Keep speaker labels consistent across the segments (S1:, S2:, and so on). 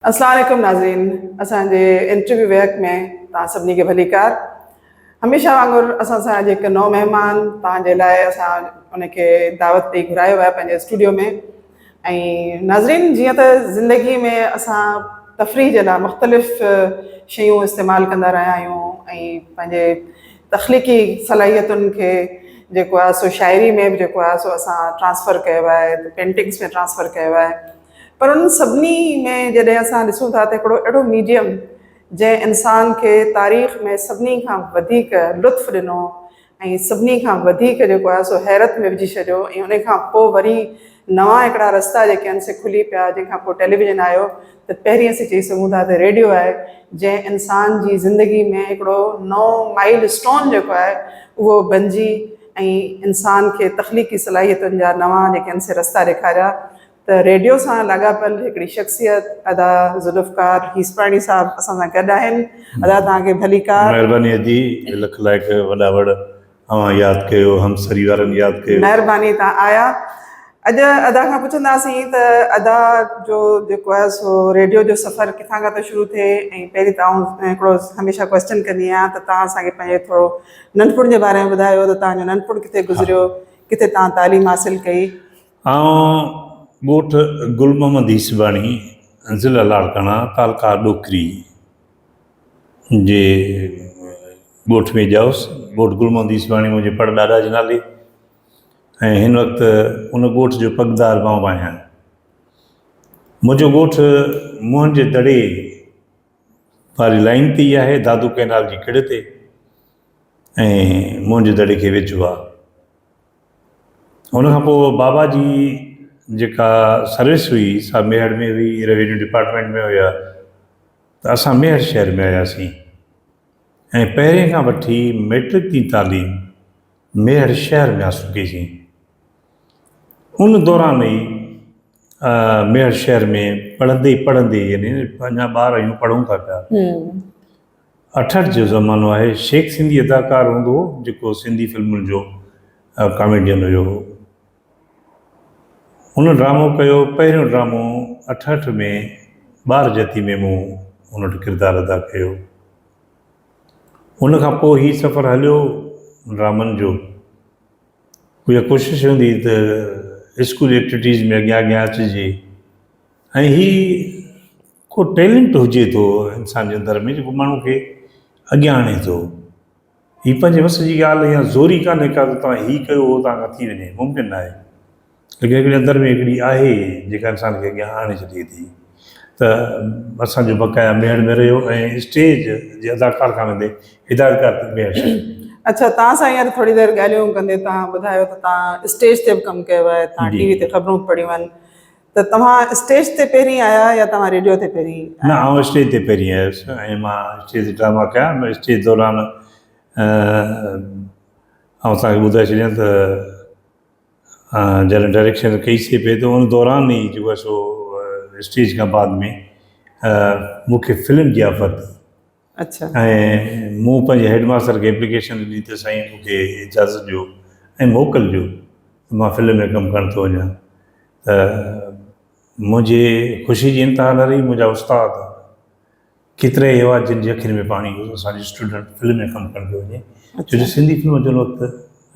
S1: اسلام عليڪم ناظرين اسان جي انٽرويو ويهڪ ۾ تان سڀني کي ڀليڪار هميشه وانگر اسان سان جي نو مهمان تان جي لاء اسان ان کي دعوت پي گهرايو آهي پنهنجي اسٽوڊيو ۾ ۽ ناظرين جيئن ته زندگي ۾ اسان تفريح جي لاء مختلف شيون استعمال ڪندا رهيا آهيون ۽ پنهنجي تخليقي صلاحيتن کي جيڪو آهي سو شاعري ۾ به جيڪو آهي سو اسان ٽرانسفر ڪيو آهي ته پينٽنگس ۾ ٽرانسفر ڪيو آهي پر انهن سڀني ۾ جڏهن اسان ڏسون ٿا ته هڪڙو اهڙو ميڊيم جنهن انسان کي تاريخ ۾ سڀني کان وڌيڪ لطف ڏنو ۽ سڀني کان وڌيڪ جيڪو آهي سو حيرت ۾ وجهي ڇڏيو ۽ ان کان پوء وري نوان هڪڙا رستا جيڪي آهن سي کلي پيا جنهن کان پوء ٽيليويزن آيو ته پهرين اسين چئي سگهون ٿا ته ريڊيو آهي جنهن انسان جي زندگي ۾ هڪڙو نئون مائيل اسٽون جيڪو آهي اهو بنجي ۽ انسان کي تخليقي صلاحيتن جا نوان جيڪي آهن سي رستا ڏيکاريا ته ريڊيو سان لاڳاپيل هڪڙي شخصيت ادا ذوالفقار هيسپاڻي صاحب اسان سان گڏ آهن ادا توهان کي ڀليڪار. مهرباني ادي
S2: لک لائق وڏا وڙ اوهان ياد ڪيو همسري وارن ياد ڪيو. مهرباني توهان آيا
S1: اڄ ادا کان پڇنداسين ته ادا جو جيڪو آهي سو ريڊيو جو سفر ڪٿان کان ٿو شروع ٿئي ۽ پهرين ته آئون هڪڙو هميشه ڪويسچن ڪندي آهيان ته توهان اسان کي پنهنجي ٿورو ننڍپڻ جي باري ۾ ٻڌايو ته توهان جو ننڍپڻ ڪٿي گذريو ڪٿي توهان تعليم حاصل ڪئي آئون ڳوٺ
S2: گل محمد يوسفاڻي، ضلع لاڙڪاڻا، تعلقه ڏوڪري جي ڳوٺ ۾ ڄائوس. ڳوٺ گل محمد يوسفاڻي منهنجي پڙ ڏاڏا جي نالي ۽ هن وقت ان ڳوٺ جو پڳدار مان به آهيان. منهنجو ڳوٺ موهن جي دڙي واري لائين تي ئي آهي، دادو ڪئنال جي ڪڙي تي ۽ موهن جي دڙي کي ويجهو آهي. ان کان پوء بابا جي جيڪا سروس هئي سا ميهڙ ۾ هئي، روينيو ڊپارٽمينٽ ۾ هيا ته اسان ميهڙ شهر ۾ آياسين ۽ پهرين کان وٺي مئٽرڪ تي تعليم ميهڙ شهر ۾ حاصل ڪئي سين. ان دوران ئي ميهڙ شهر ۾ پڙهندي پڙهندي يعني اڃا ٻار آهيون پڙهون ٿا پيا. اٺهٺ جو زمانو آهي، شيخ سنڌي اداڪار هوندو هو جيڪو سنڌي فلمن جو ڪاميڊين هيو. هن ڊرامو ڪيو، پهريون ڊرامو اٺهٺ ۾ ٻار جتي ۾ مون هن وٽ ڪردار ادا ڪيو. ان کان پوء هي سفر هليو ڊرامن جو. اها ڪوشش هوندي هئي ته اسڪول ايڪٽوٽيز ۾ اڳيان اڳيان اچجي ۽ هي ڪو ٽيلنٽ هجي ٿو انسان جي اندر ۾ جيڪو ماڻهو کي اڳيان آڻي ٿو هي پنهنجي وس جي ڳالهه يا زوري ڪانهي ڪا جو توهان هي ڪيو هو توهان کان ٿي وڃي ممڪن نه آهي ليڪن هڪڙي اندر ۾ هڪڙي آهي جيڪا انسان کي اڳيان آڻي ڇڏي ٿي ته اسانجو بقايا ميهڙ ۾ رهيو ۽ اسٽيج جي اداڪار کان ويندي هدايتڪار تي ميهڙ ڇڏي اچا توهان سان
S1: هينئر ٿوري دير ڳالهيون ڪندي توهان ٻڌايو ته توهان اسٽيج تي به ڪم ڪيو آهي توهان جي. ٽي وي تي خبرون به پڙهيون آهن ته توهان اسٽيج تي پهرين آيا يا توهان ريڊيو تي پهرين آيا؟ نه آئون اسٽيج تي
S2: پهرين آيس ۽ مان اسٽيج تي ڊراما ڪيا ۽ اسٽيج دوران آئون توهان کي ٻڌائي ڇڏيان ته جڏهن ڊائريڪشن ڪئي سي پئي ته ان دوران ئي جيڪو آهي سو اسٽيج کان بعد ۾ مون کي فلم جي آفر ٿي اڇا.
S1: ۽
S2: مون پنهنجي هيڊ ماستر کي ايپليڪيشن ڏني ته سائين مون کي اجازت ڏيو ۽ موڪل ڏيو ته مان فلم ۾ ڪم ڪرڻ ٿو وڃان ته منهنجي خوشي جي انتها نه رهي منهنجا استاد ڪيترائي هوا جن جي اکين ۾ پاڻي هو اسان جو اسٽوڊنٽ فلم ۾ ڪم ڪرڻ پيو وڃي اڇا. ڇو جو سنڌي فلم جو وقت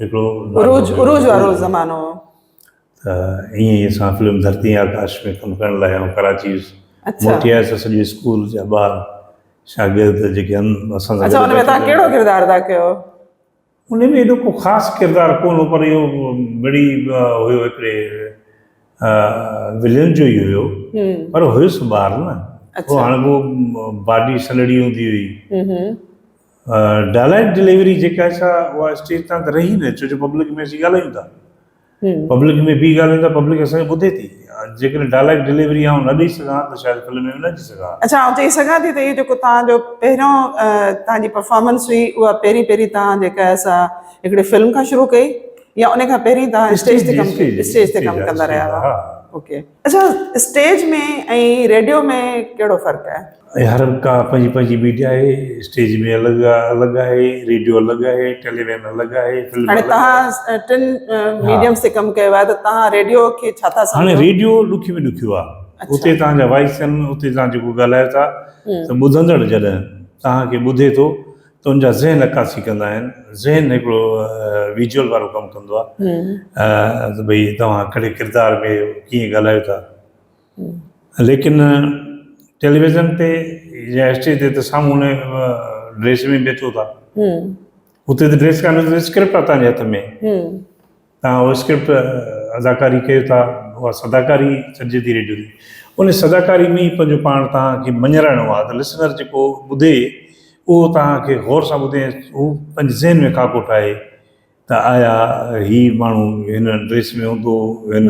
S2: هڪڙو عروج عروج
S1: وارو زمانو هو. ته
S2: ائين ئي اسان فلم ڌرتي ۽ آڪاش ۾ ڪم ڪرڻ لاء آئون ڪراچي ويس. اڇا. موٽي آيس ته سڄي اسڪول جا ٻار شاگرد جيڪي هن اسان سان اڇا گڏ ان ۾ تهان ڪهڙو
S1: ڪردار ادا ڪيو هو؟ ان
S2: ۾ ايڏو ڪو خاص ڪردار ڪونه هو پر اهو مڙئي هيو هڪڙي ولن جو ئي هيو هم. پر هيس ٻار نه اڇا. هو هاڻي هو باڊي سنهڙي هوندي هئي هم هم. ڊائليڪٽ ڊليوري جيڪا آهي سا اها اسٽيج تان ته رهي نه ڇو جو پبلڪ ۾ اسين ڳالهايون ٿا پبلڪ ۾ بيهي ڳالهايون ٿا پبلڪ اسان کي ٻڌي ٿي جيڪڏهن ڊائليڪٽ ڊليوري آئون نه ڏئي سگهان ته شايد فلم ۾ نه اچي سگهان ها اڇا آئون چئي سگهان ٿي
S1: ته اهو جيڪو توهان جو پهريون توهان جي پرفارمنس هئي اها پهرين پهرين توهان جيڪا آهي سا هڪڙي فلم کان شروع ڪئي يا ان کان پهرين توهان اسٽيج تي ڪم اسٽيج تي ڪم ڪندا رهيا هئا اوڪي اچا اسٽيج ۾ ۽ ريڊيو ۾ ڪهڙو فرق آهي؟ هر ڪا پنهنجي
S2: پنهنجي ميڊيا آهي اسٽيج ۾ الڳ الڳ آهي ريڊيو الڳ آهي ٽيليويزن الڳ آهي فلم هاڻي توهان
S1: ٽن ميڊيمس تي
S2: ڪم
S1: ڪيو آهي ته توهان ريڊيو کي ڇا ٿا سمجهو؟ هاڻي ريڊيو
S2: ڏکي
S1: ۾ ڏکيو آهي اتي
S2: توهان جا وائس آهن اتي توهان جيڪو ڳالهايو ٿا ته ٻڌندڙ جڏهن توهان کي ٻڌي ٿو تنهنجا ذهن عڪاسي ڪندا آهن ذهن هڪڙو ويجول وارو ڪم ڪندو آهي ته ڀئي توهان ڪهڙي ڪردار ۾ آهيو ڪيئن ڳالهايو ٿا ليڪن ٽيليويزن تي يا اسٽيج تي ته سامهون ان ڊريس ۾ بيٺو ٿا اتي ته ڊريس ڪانه اسڪرپٽ آهي تنهنجي هٿ ۾ تان اهو اسڪرپٽ اداڪاري ڪيو ٿا اها صداڪاري سڏجي ٿي ريڊيو جي ان صداڪاري ۾ ئي پنهنجو پاڻ تان کي مڃرائڻو آهي ته لسنر جيڪو ٻڌي اهو تان کي غور سان ٻڌي هو پنهنجي ذهن ۾ خاڪو ٺاهي ته آيا هي ماڻهو هن ڊريس ۾ هوندو هن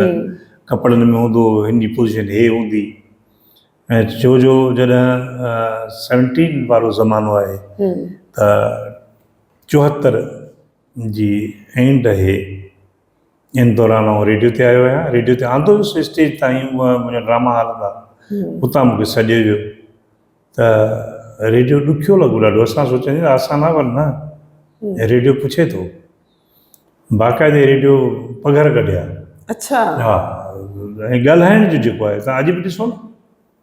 S2: ڪپڙن ۾ هوندو هن جي پوزيشن هي هوندي ۽ ڇو جو جڏهن سيونٽين وارو زمانو آهي ته چوهتر جي اينڊ اهي ان دوران آئون ريڊيو تي آيو آهيان ريڊيو تي آندو هيس اسٽيج تائين هو منهنجا ڊراما هال هوندا اتان مونکي سڏيو ويو ته ريڊيو ڏکيو لڳو ڏاڍو اسان سوچيان جي آسان آهي پر نه ريڊيو پڇي ٿو باقاعدي ريڊيو پگهر ڪڍيا اڇا
S1: ها
S2: ۽ ڳالهائڻ جو جيڪو آهي تان اڄ به ڏسو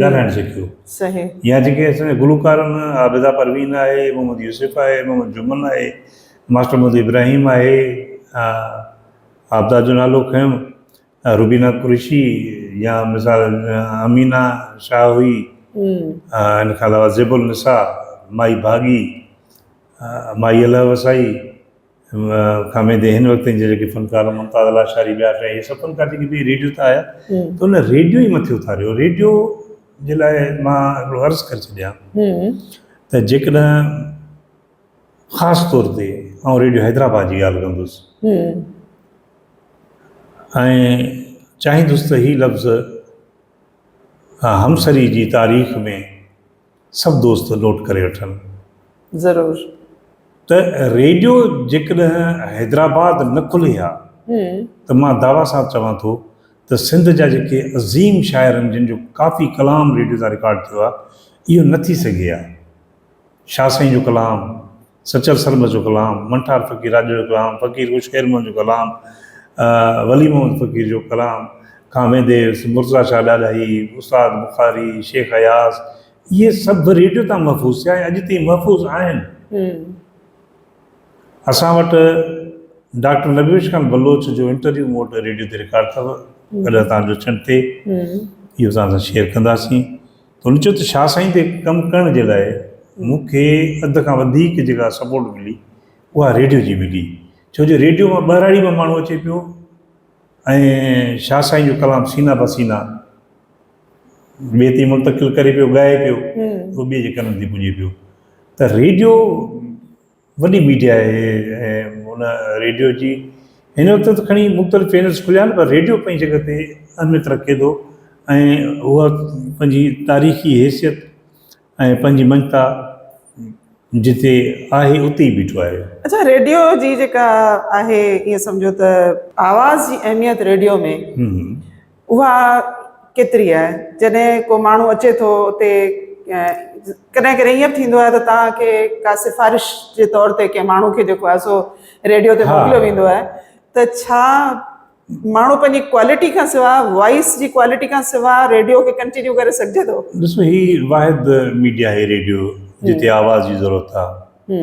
S2: ڳالهائڻ سکيو يا جيڪي اسان جا گلوڪار آهن عابده پروين آهي محمد يوسف آهي محمد جمن آهي ماسٽر محمد ابراهيم آهي عابده جو نالو کنيم روبينا قريشي يا مثال امينا شاهه هئي ان کان علاوه زيب النساء مائي ڀاڳي مائي الله وسائي کاميدي هن وقت جي جيڪي فنڪار ممتاز لاشاري ٻيا شايد اهي سڀ فنڪار جيڪي به ريڊيو تي آيا ته ان ريڊيو ئي مٿي اٿاريو ريڊيو جي لاء مان هڪڙو عرض ڪري ڇڏيان ته جيڪڏهن خاص طور تي آئون ريڊيو حيدرآباد جي ڳالهه ڪندس ۽ چاهيندس ته هي لفظ همسري جي تاريخ ۾ سڀ دوست نوٽ ڪري وٺن. ضرور. ته ريڊيو جيڪڏهن حيدرآباد نه کلي ها ته مان دعويٰ سان چوان ٿو ته سنڌ جا جيڪي عظيم شاعرن جن جو ڪافي ڪلام ريڊيو تان رڪارڊ ٿيو آهي اهو نه ٿي سگهي ها شاهه سائين جو ڪلام سچل سرمست جو ڪلام، منٺار فقير راڄڙ جو ڪلام، فقير ڪوشڪ خير محمد جو ڪلام، ولي محمد فقير جو ڪلام کان ويندي مرتضيٰ شاهه ڏاڏاهي، استاد بخاري، شيخ اياز اهي سڀ ريڊيو تان محفوظ ٿيا ۽ اڄ تائين محفوظ آهن. اسان وٽ ڊاڪٽر نبيوش خان بلوچ جو انٽرويو مون وٽ ريڊيو تي رڪارڊ اٿو، ڪڏهن توهان جو چنڊ ٿئي اهو توهان سان شيئر ڪنداسين. هن چيو ته شاهه سائين تي ڪم ڪرڻ جي لاء مون کي اڌ کان وڌيڪ جيڪا سپورٽ ملي اها ريڊيو جي ملي ڇو جو ريڊيو مان ٻهراڙي مان ماڻهو اچي پيو ۽ شاهه سائين جو ڪلام سينا به سينا ٻئي تي منتقل ڪري پيو ڳائي پيو ٻئي جي ڪنن تي پڄي پيو ته ريڊيو وڏي ميڊيا آهي ۽ ان ريڊيو جي هن وقت ته کڻي مختلف چينلز کليا آهن پر ريڊيو پنهنجي جڳهه تي اهميت رکي ٿو ۽ هو پنهنجي تاريخي حيثيت ۽ پنهنجي مڃتا جتي آهي اتي ئي بيٺو آهي. اڇا ريڊيو جي
S1: جيڪا آهي ائين سمجهو ته آواز جي اهميت ريڊيو ۾ اها ڪيتري آهي جڏهن ڪو ماڻهو اچي ٿو اتي ڪڏهن ڪڏهن ايئن به ٿيندو آهي ته توهان کي ڪا سفارش جي طور تي ڪنهن ماڻهو کي جيڪو آهي سو ريڊيو تي موڪليو ويندو آهي ته ڇا ماڻهو پنهنجي ڪوالٽي کان سواء وائس جي ڪوالٽي کان سواء ريڊيو کي ڪنٽينيو ڪري سگهجي ٿو ڏسو هي واحد
S2: ميڊيا آهي ريڊيو جتي آواز جي ضرورت آهي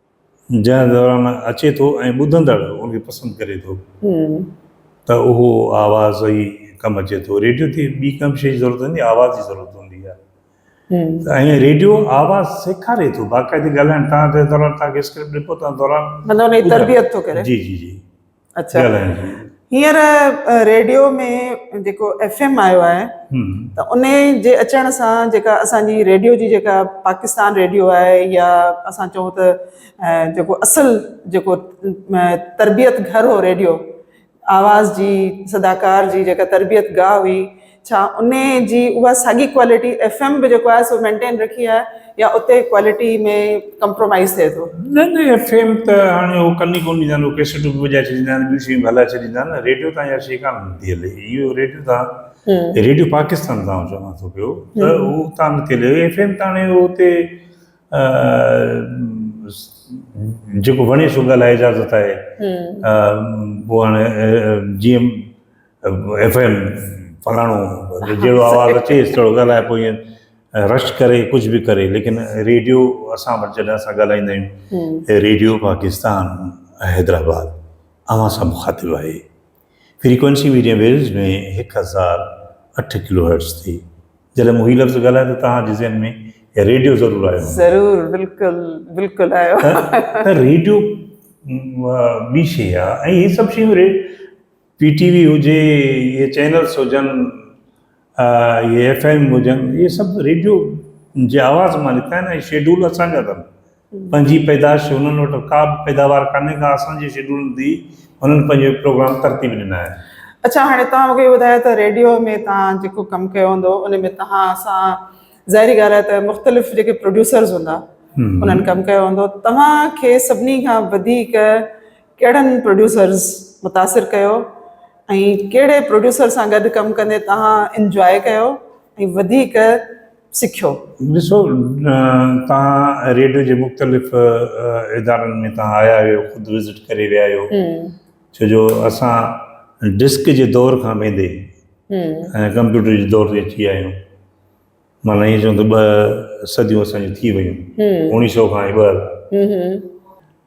S2: جنهن دوران اچي ٿو ۽ ٻڌندڙ ان کي پسند ڪري ٿو ته اهو آواز ئي ڪم اچي ٿو. ريڊيو تي ٻي ڪنهن به شيء جي ضرورت هوندي آهي، آواز جي ضرورت هوندي آهي ته ائين ريڊيو آواز سيکاري ٿو باقاعدي ڳالهائڻ تان جي دوران تان کي اسڪرپٽ ڏبو تان دوران مطلب ان جي تربيت ٿو ڪري. جي جي جي اچھا ڳالهائڻ جي هينئر
S1: ريڊيو ۾ جيڪو ايف ايم آيو آهي هم ته ان جي اچڻ سان جيڪا اسانجي ريڊيو جي جيڪا پاڪستان ريڊيو آهي يا اسان چئون ته اه، جيڪو اصل جيڪو اه، تربيت گهر هو ريڊيو آواز جي صداڪار جي جيڪا تربيت گاهه هئي ڇا انهي جي اها ساڳي ڪوالٽي ايف ايم به جيڪو آهي سو مينٽين رکي آهي يا اتي ڪوالٽي ۾ ڪمپرومائز ٿئي ٿو. نه نه ايف ايم
S2: ته هاڻي هو ڪن ئي ڪونه ڏيندا آهن هو ڪيسٽون به وڄائي ڇڏيندا آهن ٻيون شيون به هلائي ڇڏيندا آهن ريڊيو تان اها شي ڪانه نٿي هلي اهو ريڊيو تان ريڊيو پاڪستان تان آئون چوان ٿو پيو ته هو اتان نٿي هلي ايف ايم ته هاڻي هو اتي جيڪو وڻي سو ڳالهائي اجازت آهي پوء هاڻي جيئن ايف ايم فلاڻو جهڙو آواز اچي ٿورو ڳالهائي پوء ائين رش ڪري ڪجهه به ڪري ليڪن ريڊيو اسان وٽ جڏهن اسان ڳالهائيندا آهيون ريڊيو پاڪستان حيدرآباد اوهان سان مخاطب آهي فريڪوينسي ميڊيم ويوز ۾ هڪ هزار اٺ ڪلو هرٽس تي جڏهن مون هي لفظ ڳالهايو ته توهان جي ذهن ۾ ريڊيو ضرور آيو ضرور بلڪل
S1: بلڪل آيو ته ريڊيو
S2: ٻي شيء آهي ۽ هي سڀ شيون پي ٽي وي هجي اهي چينلس هجن اهي ايف ايم هجن اهي سڀ ريڊيو جي آواز مان نڪتا آهن ۽ شيڊول اسان جا اٿن پنهنجي پيدائش انهن وٽ ڪا به پيداوار ڪانهي ڪا اسان جي شيڊولن تي انهن پنهنجو پروگرام ترتيب ڏنا آهن. اڇا هاڻي تهان
S1: مونکي ٻڌايو ته ريڊيو ۾ تهان جيڪو ڪم ڪيو هوندو ان ۾ تهان سان ظاهري ڳالهه آهي ته مختلف جيڪي پروڊيوسرز هوندا انهن ڪم ڪيو هوندو تهان کي سڀني کان وڌيڪ ڪهڙن پروڊيوسرز متاثر ڪيو ۽ ڪهڙي پروڊيوسر سان گڏ ڪم ڪندي توهان انجواء ڪيو ۽ وڌيڪ سکيو؟ ڏسو
S2: توهان ريڊيو جي مختلف ادارن ۾ توهان آيا آهيو خود وزٽ ڪري ويا آهيو ڇو جو اسان ڊسڪ جي دور کان ويندي ڪمپيوٽر جي دور تي اچي ويا آهيون مان ائين چوان ته ٻه صديون اسان جون ٿي ويون اوڻيهه سؤ کان ٻه هزار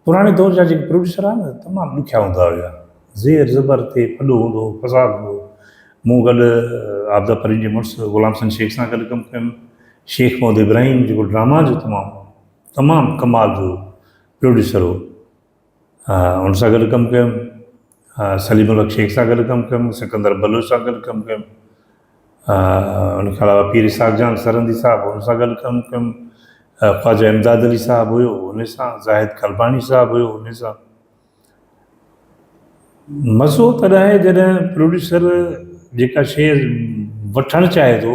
S2: پراڻي دور جا جيڪي پروڊيوسر آهن نه تمام ڏکيا هوندا هيا زير زبر تي ڦڏو هوندو هو فساد هوندو هو مون گڏ عابده پرين جي مڙس غلام حسن شيخ سان گڏ ڪم ڪيم شيخ محمد ابراهيم جيڪو ڊراما جو تمام تمام ڪمال جو پروڊيوسر هو ان سان گڏ ڪم ڪيم، سليم الحق شيخ سان گڏ ڪم ڪيم، سڪندر بلوچ سان گڏ ڪم ڪيم، ان کان علاوه پير اسحاق جان سرهندي صاحب ان سان گڏ ڪم ڪيم، خواجه امداد علي صاحب هيو ان سان، زاهد قرباني صاحب هيو ان سان. مزو تڏهن آهي جڏهن پروڊيوسر جيڪا شيء وٺڻ چاهي ٿو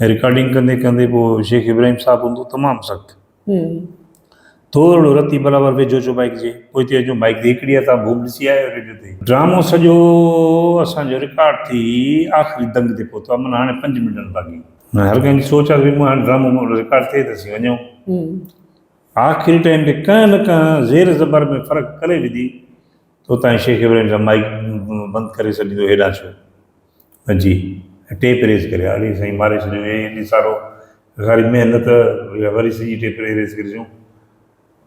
S2: ۽ رڪارڊنگ ڪندي ڪندي پوء شيخ ابراهيم صاحب هوندو تمام سخت ٿورڙو رتي برابر ويجهو اچو مائيڪ جي پوء ٿي اچو مائيڪ تي هڪڙي هٿان بوم ڏسي آيا آهيو ريڊيو تي ڊرامو سڄو اسان جو رڪارڊ ٿي آخري دنگ تي پهتو آهي معنيٰ هاڻي پنج منٽن باقي هر ڪنهن جي سوچ آهي ته مون هاڻي ڊرامو مون رڪارڊ ٿئي ته اسين وڃون آخري ٽائيم تي ڪنهن نه ڪنهن زير زبر ۾ فرق ڪري وڌي ته اتان شيخ ابراهيم صاحب مائيڪ بند ڪري سڏيندو هيڏانهن ڇو جي ٽي پريس ڪري اڙي سائين ماري ڇڏيو هي ايڏي سارو ساري محنت وري سڄي ٽي پريس ڪرجون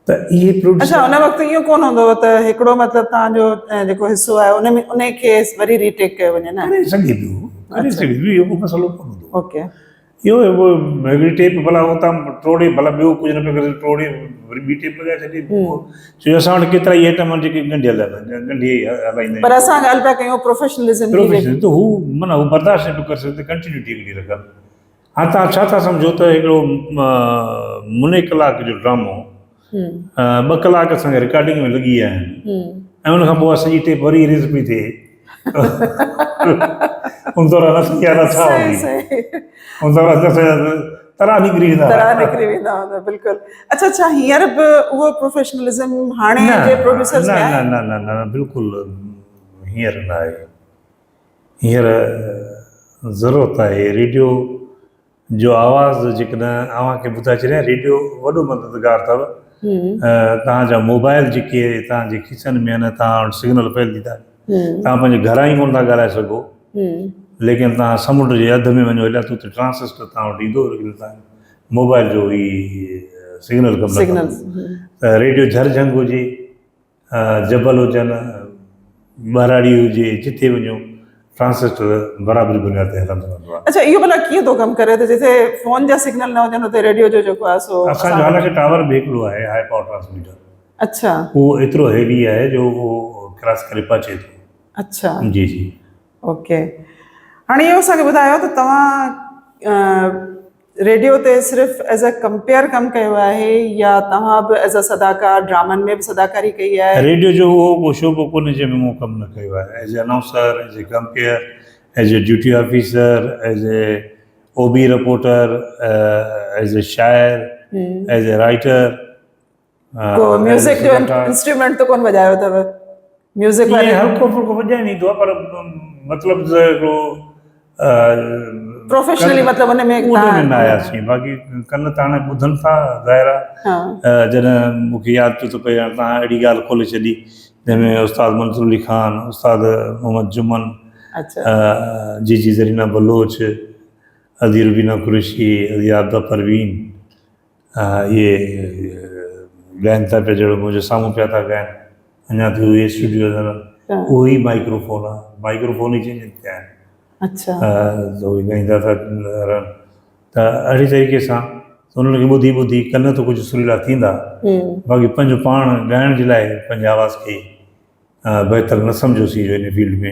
S2: ته اهي پروڊيوسر اچھا ان وقت ايو ڪون
S1: هوندو هو ته هڪڙو مطلب تان جو جيڪو حصو آهي ان ۾ ان کي وري ري ٽيڪ ڪيو وڃي نه ڪري سگهي ٿو ڪري
S2: سگهي ٿو اهو ڪو مسئلو ڪون هوندو اوڪي اهو
S1: هڪ
S2: هڪڙي ٽيپ ڀلا اتان ٽوڙي ڀلا ٻيو ڪجهه نه پيو ڪري ٽوڙي وري ٻي ٽيپ لڳائي ڇڏي پوء چوي اسان وٽ ڪيترا ئي آئٽم آهن جيڪي ڳنڍيل آهن ڳنڍي هلائيندا پر آهيون اسان ڳالهه پيا ڪيون
S1: پروفيشنلزم جي پروفيشنل ته هو
S2: معنيٰ هو برداشت نه پيو ڪري سگهندو ڪنٽينيوٽي هڪڙي رکن هاڻ تان ڇا ٿا سمجهو ته هڪڙو مني ڪلاڪ جو ڊرامو ٻه ڪلاڪ اسان کي رڪارڊنگ ۾ لڳي ويا آهن ۽ ان کان پوء اسان جي ٽيپ وري اريز پئي ٿئي ان دوران اسان جا نالا ڇا هوندي ان دوران اسان جا ترا نڪري ويندا ترا نڪري ويندا هوندا
S1: بلڪل اچھا اچھا هينئر به اهو پروفيشنلزم هاڻي جي پروڊيوسرز ۾ نه نه نه نه بلڪل
S2: هينئر نه آهي هينئر ضرورت آهي ريڊيو جو آواز جيڪڏهن اوهان کي ٻڌائي ڇڏيان ريڊيو وڏو مددگار اٿو توهان جا موبائل جيڪي توهان جي کيسن ۾ آهن توهان وٽ سگنل پيل ٿي ٿا توهان پنهنجي گهران ئي ڪونه ٿا ڳالهائي سگهو ليڪن توهان سمنڊ جي اڌ ۾ وڃو هليا ته اتي ٽرانسسٽر توهان وٽ ايندو ليڪن توهان موبائل جو هي سگنل ڪم نه ڪندو ته ريڊيو جهرجهنگ هجي جبل هجن، ٻهراڙي هجي، جتي وڃو ٽرانسسٽر برابري بنياد تي هلندو رهندو آهي. اڇا اهو ڀلا ڪيئن ٿو ڪم
S1: ڪري ته جتي فون جا سگنل نه هجن اتي ريڊيو جو جيڪو آهي سو اسان جو حالانڪ ٽاور به
S2: هڪڙو آهي هاء پاور ٽرانسميٽر اڇا اهو
S1: ايترو هيوي
S2: آهي جو اهو ڪراس ڪري پهچي ٿو اڇا جي
S1: جي
S2: اوڪي
S1: هاڻي اهو اسان کي ٻڌايو ته توهان ريڊيو تي صرف ايز ا ڪمپيئر ڪم ڪيو آهي يا توهان به ايز ا صداڪار ڊرامن ۾ به صداڪاري ڪئي آهي. ريڊيو جو اهو ڪو
S2: شعبو ڪونهي جنهن ۾ مون ڪم نه ڪيو آهي as a announcer, as a compere, as a duty officer, as a O B reporter, as a شاعر، ايز ا رائيٽر.
S1: ميوزڪ جو انسٽرومينٽ ته ڪون وڄايو اٿو ميوزڪ واري هلڪو ڦلڪو وڄائي ويندو
S2: آهي پر مطلب ته هڪڙو
S1: پروفيشنلي مطلب ان ۾ ان ۾ آيا سين باقي
S2: ڪن ته هاڻي ٻڌن ٿا ظاهر آهي جڏهن مون کي ياد پيو ٿو پئي هاڻي تان اهڙي ڳالهه کولي ڇڏي جنهن ۾ استاد منظور علي خان استاد محمد جمن جي جي زرينا بلوچ ادي روبينا قريشي ادي عابده پروين اهي ڳائن ٿا پيا جهڙو منهنجي سامهون پيا ٿا ڳائن اڃا تائين اهي اسٽوڊيو نظر اهو ئي مائڪرو فون آهي مائڪرو فون ئي چينجنگ ٿيا آهن اچا
S1: ته اهي
S2: ڳائيندا ٿا رهن ته اهڙي طريقي سان انهن کي ٻڌي ٻڌي ڪن ته ڪجهه سريلا ٿيندا باقي پنهنجو پاڻ ڳائڻ جي لاء پنهنجي آواز کي بهتر نه سمجهيوسين جو ان فيلڊ ۾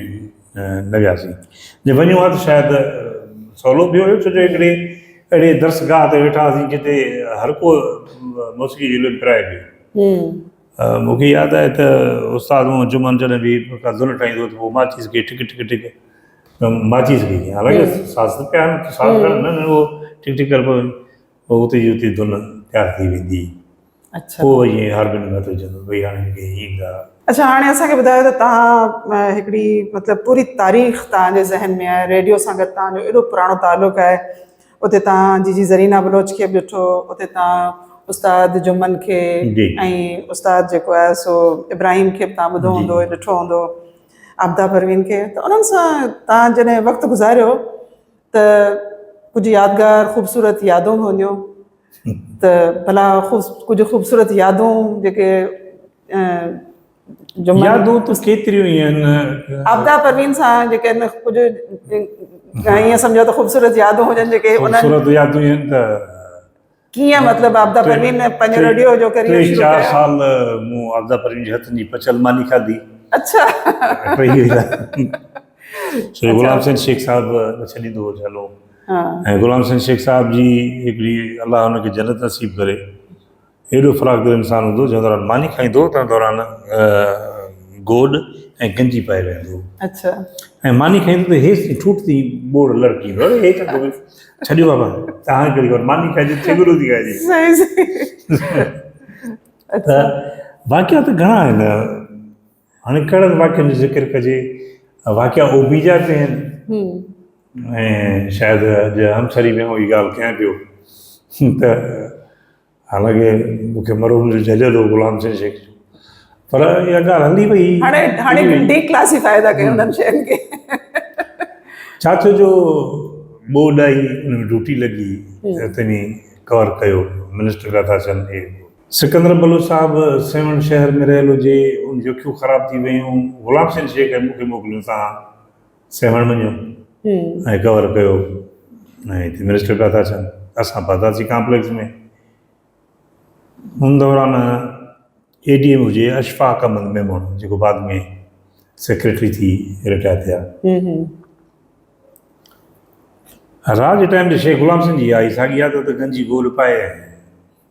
S2: نه وياسين جي وڃون ها ته شايد سولو به هيو ڇو جو هڪڙي اهڙي درسگاهه تي ويٺا هئاسين جتي هر ڪو موسيقي جي لئه پرايو پيو مون کي ياد آهي ته استاد مون جمعن جڏهن به ڪا ڌن ٺاهيندو هو ته پوء ماچيس کي ٺڪ ٺڪ ٺڪ ماچيس کي حالانڪه ساز ته پيا ساز نه نه هو ٺڪ ٺڪ ڪربو هو اتي جي اتي ڌن تيار ٿي ويندي هئي اچھا هو
S1: وڃي هارمونيم
S2: هٿ وجهندو وئي هاڻي هن کي ايندا. اچھا هاڻي اسان کي ٻڌايو
S1: ته تهان هڪڙي مطلب پوري تاريخ تهان جي ذهن ۾ آهي ريڊيو سان گڏ تهان جو ايڏو پراڻو تعلق آهي اتي تهان جي جي زرينا بلوچ کي به ڏٺو اتي تهان استاد جمن کي جي. ۽ استاد جيڪو آهي سو ابراهيم کي به تهان ٻڌو جي. هوندو ڏٺو هوندو عابده پروين کي ته انهن سان تهان جڏهن وقت گذاريو ته ڪجهه يادگار خوبصورت يادون هونديون ته ڀلا ڪجهه خوبصورت يادون جيڪي
S2: جمن يادون ته ڪيتريون ئي آهن عابده پروين سان
S1: جيڪي ڪجهه ائين سمجهو ته خوبصورت يادون هجن جيڪي انهن خوبصورت يادون آهن
S2: ته ڪيئن
S1: مطلب عابده پروين پنهنجو ريڊيو جو ڪريئر شروع ڪيو ٽي چار سال مون
S2: عابده پروين جي هٿن جي پچل ماني کاڌي اڇا
S1: ٽي سال
S2: سو غلام حسين شيخ صاحب ڇڏيندو هو جهلو ۽ غلام حسين شيخ صاحب جي هڪڙي الله ان کي جنت نصيب ڪري ايڏو فراخ دل انسان هوندو جنهن دوران ماني کائيندو تنهن دوران گوڏ ۽ گنجي پائي ويهندو هو اڇا
S1: ۽ ماني کائيندو
S2: ته هيس ٺوٺ تي ٻوڙ لڙڪيندو هو هي ڇا ٿو ڇڏيو بابا ته هاڻي ڪهڙي خبر ماني کائجي ٺيڪرو ٿي کائجي صحيح صحيح ته واقعا ته گهڻا آهن هاڻي ڪهڙن واقعن جو ذڪر ڪجي. واقعا او بيجا به آهن ۽ شايد اڄ همسري ۾ آئون هي ڳالهه ڪيان پيو ته حالانڪه مون کي مرحوم جو جهليل هو غلام حسين شيخ جو پر اها ڳالهه هلي وئي هاڻي هاڻي ڊي
S1: ڪلاسيفائي ٿا ڪيون انهن شين کي
S2: ڇا ٿيو جو ٻو ڏائي ان ۾ ڊيوٽي لڳي تنهن ڪور ڪيو منسٽر ڪٿا سن سڪندر بلوچ صاحب سيوهڻ شهر ۾ رهيل هجي، ان جون اکيون خراب ٿي ويون، غلام حسين شيخ ۽ مون کي موڪليو ته آئون سيوهڻ وڃيو ۽ ڪور ڪيو ۽ هتي منسٽر پيا ٿا اچن اسان پهتاسين ڪامپليڪس ۾ ان دوران اي ڊي ايم هجي اشفاق احمد ميمڻ جيڪو بعد ۾ سيڪريٽري ٿي رٽائر ٿيا راڄ ٽائيم تي شيخ غلام حسين جي آئي ساڳي عادت گنجي گول پائي ۽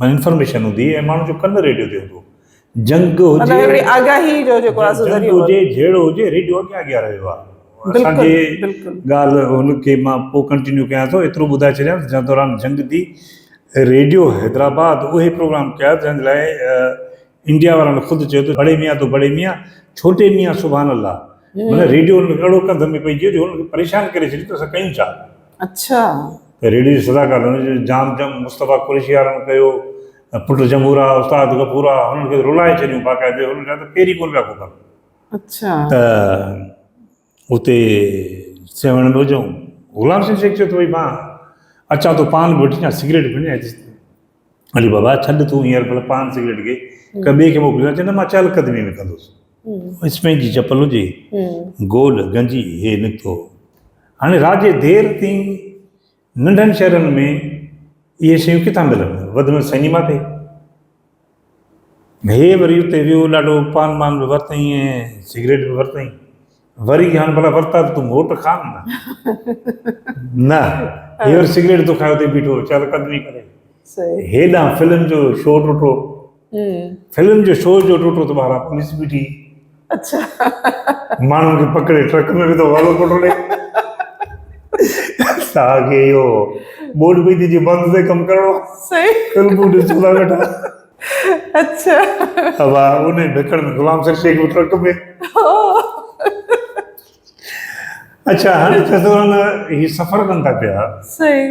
S2: معنيٰ انفارميشن هوندي ۽ ماڻهن جو ڪن ريڊيو تي هوندو جنگ هجي مطلب هڪڙي آگاهي جو جيڪو آهي سو ذريعو هجي جهيڙو هجي ريڊيو اڳيان اڳيان رهيو آهي اسان جي ڳالهه هن کي مان پوء ڪنٽينيو ڪيان ٿو ايترو ٻڌائي ڇڏيان ته جنگ دوران جنگ ٿي ريڊيو حيدرآباد اهي پروگرام ڪيا جن لاء انڊيا وارن خود چيو ته بڙي ميان تو بڙي ميان ڇوٽي ميان سبحان الله معنيٰ ريڊيو انهن کي اهڙو ڪنڌ ۾ پئجي ويو جو انهن کي پريشان ڪري ڇڏيو ته اسان ڪيون ڇا؟ اڇا. ته ريڊيو جي صدا ڪار هن جو جام جم مصطفيٰ قريشي وارن ڪيو ۽ پٽ جمهورا استاد غفورا هنن کي رلائي ڇڏيون باقاعدي هنن جا ته پير ئي ڪونه پيا کوکن. اڇا. ته. اتي سيوهڻ به هجئون. غلام شير شيخ چيو ته ڀئي مان اچان ٿو پان به وٺي اچان سگريٽ به وڃي علي بابا ڇڏ تون هينئر ڀلا پان سگريٽ کي ڪنهن ٻئي کي موڪلي چئي نه مان چهل قدمي ۾ ڪندوس اسپين جي چپل هجي گول گنجي هي نڪتو هاڻي رات جي دير تائين ننڍن شهرن ۾ اهي شيون ڪٿان ملن؟ وڌ ۾ وڌ سئنيما تي. هي وري اتي ويو، ڏاڍو پان ٻان به ورتائين ۽ سگريٽ به ورتائين. وري چيائين، هاڻ ڀلا ورتا ته تون موٽ کاء نه. نه، هي وري سگريٽ ٿو کائي اتي بيٺو چهل قدمي ڪري. هيڏانهن فلم جو شو ڏٺو. فلم جو شو جو ٽوٽو ته ٻاهران پوليس بيٺي ماڻهن کي پڪڙي ٽرڪ ۾ وڌو والو ڪوٽو ڏي ساهه کي اهو ٻوڏ پئي ٿي جي بند تي ڪم ڪرڻو فلمون ڏسو ٿا ويٺا اچھا
S1: ابا
S2: ان بکڙ ۾ غلام سر شيخ ٽرڪ ۾ اچھا هاڻي چتران هي سفر ڪن ٿا پيا صحيح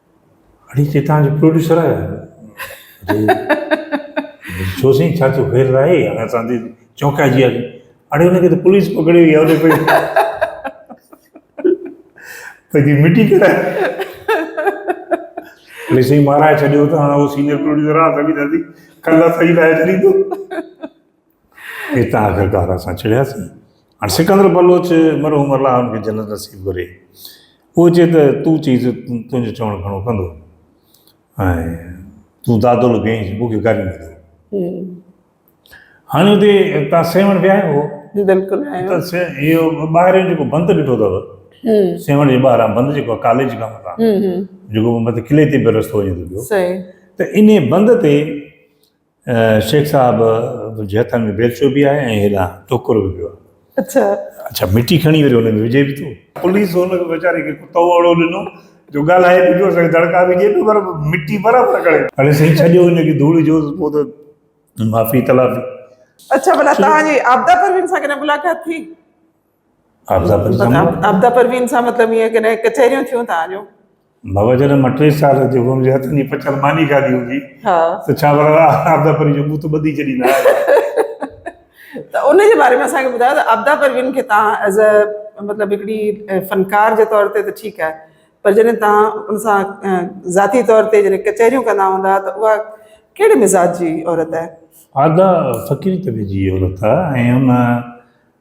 S2: اڙي چي تان جو پروڊيوسر آهي ڇو سين ڇا ٿيو خير آهي انا سان دي چونڪا جي اڙي ان کي ته پوليس پڪڙي ويا اڙي پي پي مٽي ڪرا اڙي سين مارا ڇڏيو ته انا سينيئر پروڊيوسر آ سڀي دادي کلا سائي لاهي ڏي تو اتان آخرڪار اسان چڙهياسين. هاڻ سڪندر بلوچ مرحوم الله ان کي جنت نصيب ڪري اهو چئي ته تون چئي ته تنهنجو چوڻ گهڻو ڪندو ۽ تون دادول ڪئين مون کي گاريون نه ڏي. هاڻي اتي تان سيوهڻ به آيو هو. بلڪل آيو.
S1: اهو
S2: ٻاهريون جيڪو بند ڏٺو اٿو سيوهڻ جي ٻاهران بند جيڪو ڪاليج کان مٿان جيڪو مٿي قلعي تي به رستو وڃي ٿو پيو ته انهي بند تي شيخ صاحب تنهنجي هٿن ۾ بيلچو به آهي ۽ هيڏانهن ٽوڪرو به پيو آهي. اڇا
S1: مٽي کڻي
S2: وري ان ۾ وجهي به ٿو. پوليس ان کي ويچاري کي ڪتو اهڙو ڏنو جو ڳالهائي به پيو سگهي دڙڪا به ڏئي پيو پر مٽي برابر کڻي پيو. اڙي سائين ڇڏيو هن کي ڌوڙي جو پوء ته معافي تلافي. اڇا ڀلا
S1: توهان جي عابده پروين سان ڪڏهن ملاقات ٿي؟ آبدا پروين سان مطلب آبدا پروين سان مطلب ائين ڪڏهن ڪچهريون ٿيون توهان جون بابا جڏهن
S2: مان ٽي سال جو هوم جي هٿن جي پچل ماني کاڌي هوندي ها ته ڇا ورا آبدا پروين جو بوت ٻڌي چڙي نه
S1: ته ان جي باري ۾ اسان کي ٻڌايو ته آبدا پروين کي تان ایز ا مطلب هڪڙي فنڪار جي طور تي ته ٺيڪ آهي پر جڏهن تان ان سان ذاتي طور تي جڏهن ڪچهريون ڪندا هوندا ته اها ڪهڙي مزاج جي عورت آهي آبدا فقيري طبيعت جي عورت آهي ۽ ان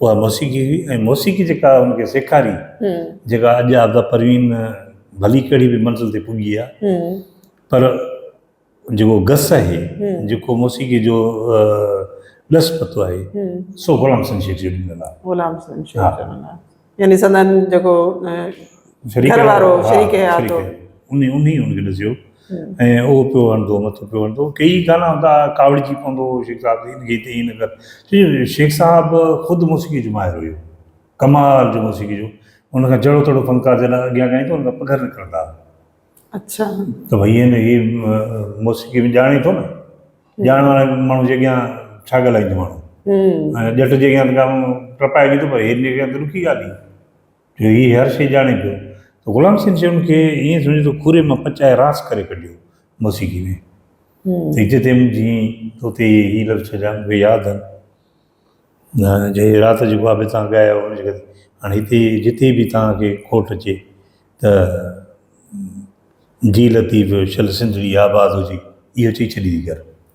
S1: اها موسيقي هئي ۽ موسيقي جيڪا هن کي سيکاري جيڪا اڄ عابده پروين ڀلي ڪهڙي به منزل تي پڳي آهي پر جيڪو گس آهي جيڪو موسيقي جو ڏس پتو آهي سو غلام حسن شيخ جو ڏنل آهي غلام حسن شيخ جو ڏنل آهي يعني سندن جيڪو گهر وارو شريڪ حيات هو انهي انهي هن کي ڏسيو ۽ اهو پيو هڻندو، مٿو پيو هڻندو، ڪيئي ئي گانا هوندا ها، ڪاوڙجي پوندو هو شيخ صاحب هن گيت ائين نه ڪر، ڇو جو شيخ صاحب خود موسيقي جو ماهر هيو، ڪمال جو موسيقي جو، هن کان جهڙو تهڙو فنڪار جڏهن اڳيان ڳائيندو هن کان پگهر نڪرندا ها. اڇا. ته ڀئي هن هي موسيقي ۾ ڄاڻي ٿو نه، ڄاڻ واري ماڻهو جي اڳيان ڇا ڳالهائيندو ماڻهو. ڄٽ جي اڳيان ته ٽپائجي ٿو پر هن جي اڳيان ته ڏکي ڳالهه هي. جو هي هر شيء ڄاڻي پيو ته غلام حسين شيون کي ائين سمجهو ته کوري مان پچائي راس ڪري ڪڍيو موسيقي ۾ ته هتي تي جي توتي هي لفظ ڇڏيا مونکي ياد آهن جي رات جي خواب تان ڳايو هن جي ڪري هاڻي هتي جتي به تان کي کوٽ اچي ته جي لطيف شل سنڌڙي آباد هجي اهو چئي ڇڏي ڪر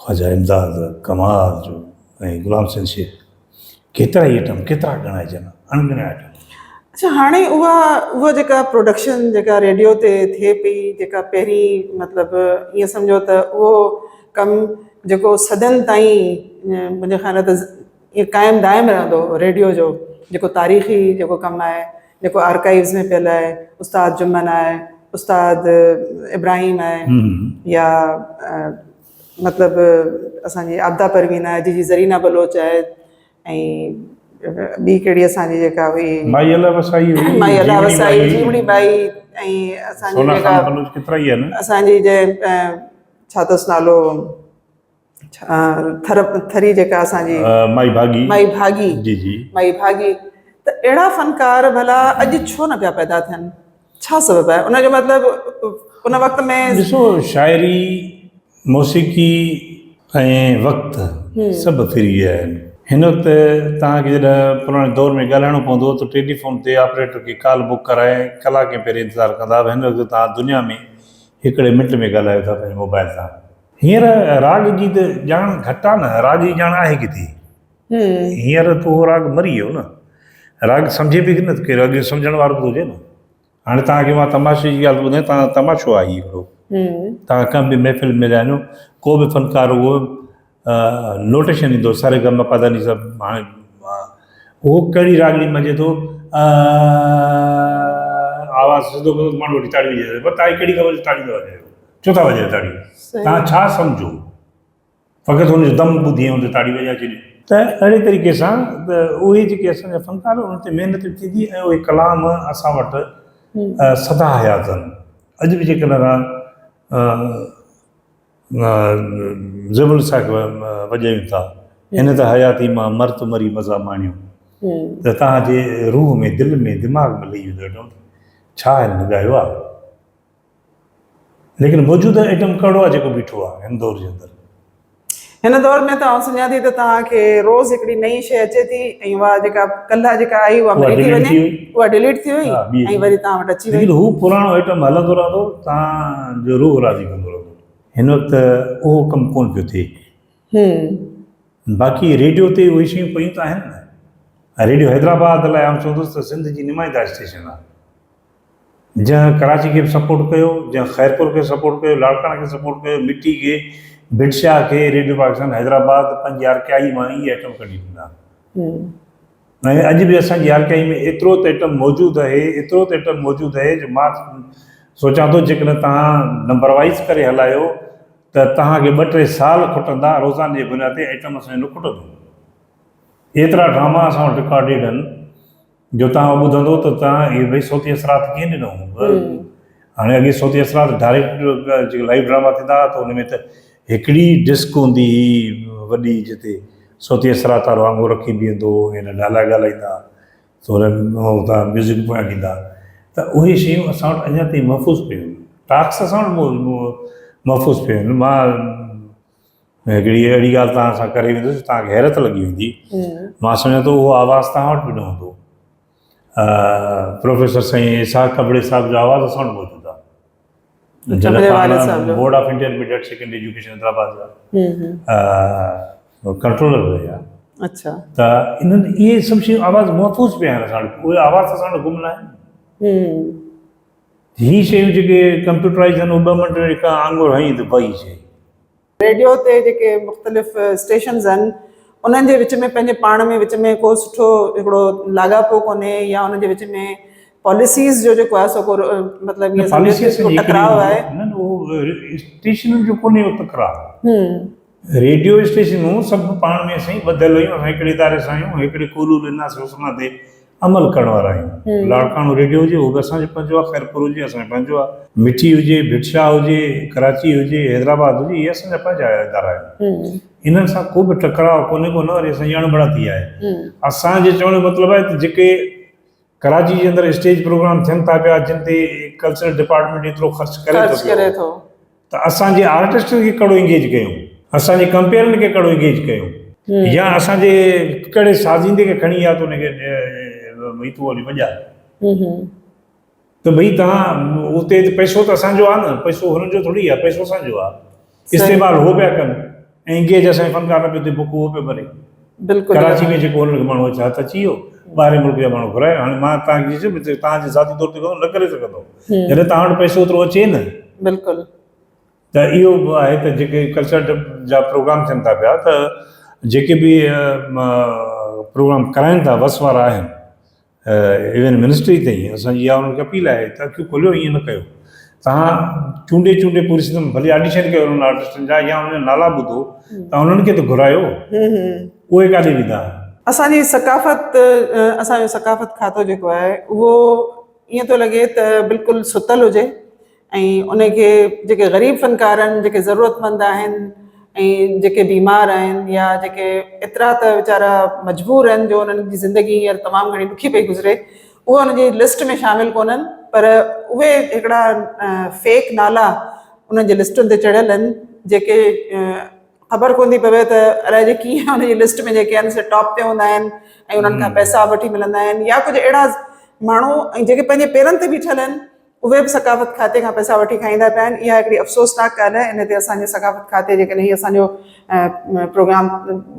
S2: خواجه امداد ڪمار جو ۽ غلام حسين شيخ ڪيترا ئي ايٽم ڪيترا ڳڻائجن اڻڳڻيا ايٽم. اڇا هاڻي
S1: اها اها جيڪا پروڊڪشن جيڪا ريڊيو تي ٿئي پئي جيڪا پهرين مطلب ائين سمجهو ته اهو ڪم جيڪو صدين تائين منهنجي خيال ته ائين قائم دائم رهندو ريڊيو جو جيڪو تاريخي جيڪو ڪم آهي جيڪو آرڪائيوز ۾ پيل آهي استاد جمن آهي استاد ابراهيم آهي يا مطلب اسان جي عابده پروين آهي جي جي زرينا بلوچ آهي ۽ ٻي ڪهڙي اسان جي جيڪا هئي مائي الله وسائي هئي
S2: مائي الله وسائي
S1: جيوڻي بائي ۽
S2: اسان جي جيڪا اسان جي جي
S1: ڇا اٿس نالو ٿر ٿري جيڪا اسان جي مائي ڀاڳي مائي ڀاڳي جي جي مائي ڀاڳي ته اهڙا فنڪار ڀلا اڄ ڇو نه پيا پيدا ٿين ڇا سبب آهي ان جو مطلبه ان وقت ۾ ڏسو شاعري
S2: موسيقي ۽ وقت سڀ فري آهن هن وقت تان کي جڏهن پراڻي دور ۾ ڳالهائڻو پوندو ته ٽيليفون تي آپريٽر کي ڪال بڪ ڪرائي ڪلاڪين پهرين انتظار ڪندا هن وقت تان دنيا ۾ هڪڙي منٽ ۾ ڳالهايو ٿا پنهنجي موبائل تان هينئر راڳ جي ته ڄاڻ گهٽ آ نه، راڳ جي ڄاڻ آهي ڪٿي؟ هينئر ته اهو راڳ مري ويو نه. راڳ سمجهي به نه ٿو ڪير، اڳ جو سمجهڻ وارو ته هجي نه. هاڻي توهان کي مان تماشي جي ڳالهه ٿو ٻڌايان، توهان تماشو آ هي هڪڙو. توهان ڪنهن به محفل ۾ وڃو، ڪو به فنڪار هو نوٽيشن ڏيندو ساري گا ما پا ڌا ني سا هاڻي هو ڪهڙي راڳ ۾ مڃي ٿو آ آواز سڌو ڪندو ماڻهو وٺي تاڙيون وڄائيندو، پر توهان کي ڪهڙي خبر جو تاڙيون ٿا وڄايو. ڇو ٿا وڄايو تاڙيون؟ توهان ڇا سمجهو؟ فقط هن جو دم ٻڌي ۽ هن تي تاڙيون وڄائي ڇڏيون. ته اهڙي طريقي سان ته اهي جيڪي اسان جا فنڪار ان تي محنت به ٿيندي ۽ اهي ڪلام اسان وٽ سدا حيات هن. اڄ به جيڪڏهن اسان زيب الوساخ وڄايون ٿا، هن ته حياتي مان مرت مري مزا ماڻيو، ته توهان جي روح ۾، دل ۾، دماغ ۾ لهي ويندو اهي ٽون. ڇا هن ڳايو آهي؟ ليڪن موجوده ايٽم ڪهڙو آهي جيڪو بيٺو آهي هن دور جي اندر؟ هن
S1: دور ۾ ته آئون سمجهان ٿي ته توهان کي روز هڪڙي نئين شيء اچي ٿي ۽ اها جيڪا ڪلهه جيڪا آئي اها مري ٿي وڃي اها ڊليٽ ٿي وئي ۽ وري توهان وٽ اچي وئي. ليڪن هو پراڻو ايٽم هلندو
S2: رهندو توهان جو روح راضي ڪندو رهندو. هن وقت اهو ڪم ڪونه پيو ٿئي. باقي ريڊيو تي اهي شيون پيون ته آهن نه. ريڊيو حيدرآباد لاء آئون چوندس ته سنڌ جي نمائنده اسٽيشن آهي. جنهن ڪراچي کي به سپورٽ ڪيو، جنهن خيرپور کي سپورٽ ڪيو، لاڙڪاڻه کي سپورٽ ڪيو، مٺي کي، ڀٽ شاهه کي، ريڊيو پاڪستان حيدرآباد پنهنجي آر ٽي آئي مان ئي ايٽم ڪڍي ڏنا. ۽ اڄ به اسان جي آر ٽي آئي ۾ ايترو ته ايٽم موجود اهي، ايترو ته ايٽم موجود اهي جو مان سوچان ٿو جيڪڏهن توهان نمبر وائيز ڪري هلايو ته توهان کي ٻه ٽي سال کٽندا روزاني جي بنياد تي ايٽم اسان جو نه کٽندو. ايترا ڊراما اسان وٽ رڪارڊيڊ آهن. جو تان اهو ٻڌندو ته تان اهي بي صوتي اثرات ڪيئن ڏنو هاڻي اڳي صوتي اثرات ڊائريڪٽ جيڪي لائيو ڊراما ٿيندا هئا ته ان ۾ ته هڪڙي ڊسڪ هوندي هئي وڏي جتي صوتي اثرات وارو آڱو رکي بيهندو هو ۽ ڊائلاگ ڳالهائيندا هئا ته ان هتان ميوزڪ پويان ڏيندا هئا ته اهي شيون اسان وٽ اڃا تائين محفوظ پيون هيون ٽاڪس اسان وٽ محفوظ پيون هيون مان هڪڙي اهڙي ڳالهه توهان سان ڪري ويندس توهان کي حيرت لڳي ويندي مان سمجهان ٿو اهو آواز توهان وٽ به نه هوندو پروفيسر سائين اسحاق ڪٻڙي صاحب جو آواز اسان وٽ موجود آهي board of intermediate secondary education Hyderabad جا ڪنٽرولر هئي ها اچھا ته
S1: انهن
S2: اهي سڀ شيون آواز محفوظ پيا آهن اسان وٽ اهي آواز اسان وٽ گم نه آهن هي شيون جيڪي ڪمپيوٽرائيز آهن اهي ٻه منٽ ۾ هڪ آڱر هنئي ته بئي شيون. ريڊيو
S1: تي جيڪي مختلف اسٽيشنز آهن انهن جي وچ ۾ پنهنجي پاڻ ۾ وچ ۾ ڪو سٺو هڪڙو لاڳاپو ڪونهي يا ان جي وچ ۾ پاليسيز جو جيڪو آهي سو ڪو مطلب ائين سمجهو ته ڪو ٽڪراء آهي. نه نه اهو
S2: اسٽيشنن جو ڪونهي اهو تڪرار. ريڊيو اسٽيشنون سڀ پاڻ ۾ سائين ٻڌل هيون، اسان هڪڙي اداري سان آهيون، هڪڙي قولو للناس حسنا تي عمل ڪرڻ وارا آهيون، لاڙڪاڻو ريڊيو هجي اهو به اسان جو پنهنجو آهي، خيرپور هجي اسان جو پنهنجو آهي، مٺي هجي، ڀٽ شاهه هجي، ڪراچي هجي، حيدرآباد هجي اهي اسان جا پنهنجا ادارا آهن، انهن سان ڪو به ٽڪراء ڪونهي ڪو نه وري اسان جي اڻبڻتي آهي، اسان جي چوڻ جو مطلب آهي ته جيڪي ڪراچي جي اندر اسٽيج پروگرام ٿين ٿا پيا جن تي ڪلچرل ڊپارٽمينٽ ايترو خرچ ڪري ٿو پيو. ته اسان جي آرٽسٽن کي ڪهڙو انگيج ڪيون، اسان جي ڪمپيئرن کي ڪهڙو انگيج ڪيون يا اسان جي ڪهڙي سازيندي کي کڻي يا ته ان کي ڀئي تون هلي وڄاء ته ڀئي تان اتي پئسو ته اسان جو آهي نه، پئسو هنن جو ٿوري آهي، پئسو اسان جو آهي. استعمال هو پيا ڪن. ائين ڪي جو اسان جي فنڪار نه پيو ٿئي بڪ اهو پيو ڀري بلڪل ڪراچي
S1: ۾ جيڪو هن کي
S2: ماڻهو هٿ اچي ويو ٻاهرين ملڪ جا ماڻهو گهرايو هاڻي مان تان کي چيس ڀي تان جي ذاتي طور تي ڪم نه ڪري سگهندو جڏهن تان وٽ پئسو اوترو اچي نه بلڪل
S1: ته
S2: اهو به آهي ته جيڪي ڪلچر جا پروگرام ٿين ٿا پيا ته جيڪي به پروگرام ڪرائين ٿا وس وارا آهن ايون منسٽري تائين اسان جي اها انهن کي اپيل آهي ته اکيون کوليو ائين نه ڪيو توهان چونڊي چونڊي پوري سندن ڀلي آڊيشن ڪيو انهن آرٽسٽن جا يا انهن جا نالا ٻڌو ته انهن کي ته گهرايو اهي ڪاڏي ويندا اسان جي
S1: ثقافت اسان جو ثقافت کاتو جيڪو آهي اهو ائين ٿو لڳي ته بلڪل ستل هجي ۽ ان کي جيڪي غريب فنڪار آهن جيڪي ضرورتمند آهن ۽ جيڪي بيمار آهن يا جيڪي ايترا ته ويچارا مجبور آهن جو انهن جي زندگي هينئر تمام گهڻي ڏکي پئي گذري اهي ان جي لسٽ ۾ شامل ڪونهن پر اهي هڪڙا فيڪ نالا انهن جي لسٽن تي چڙهيل آهن جيڪي خبر ڪون ٿي پوي ته الاء جي ڪيئن ان جي لسٽ ۾ جيڪي آهن سي ٽاپ تي هوندا آهن ۽ انهن کان پئسا به وٺي ملندا آهن يا ڪجهه اهڙا ماڻهو ۽ جيڪي پنهنجي پيرن تي بيٺل آهن اهي به ثقافت کاتي کان پئسا وٺي کائيندا پيا آهن اها هڪڙي افسوسناڪ ڳالهه آهي ان تي اسان جي ثقافت کاتي جيڪڏهن هي اسان جو پروگرام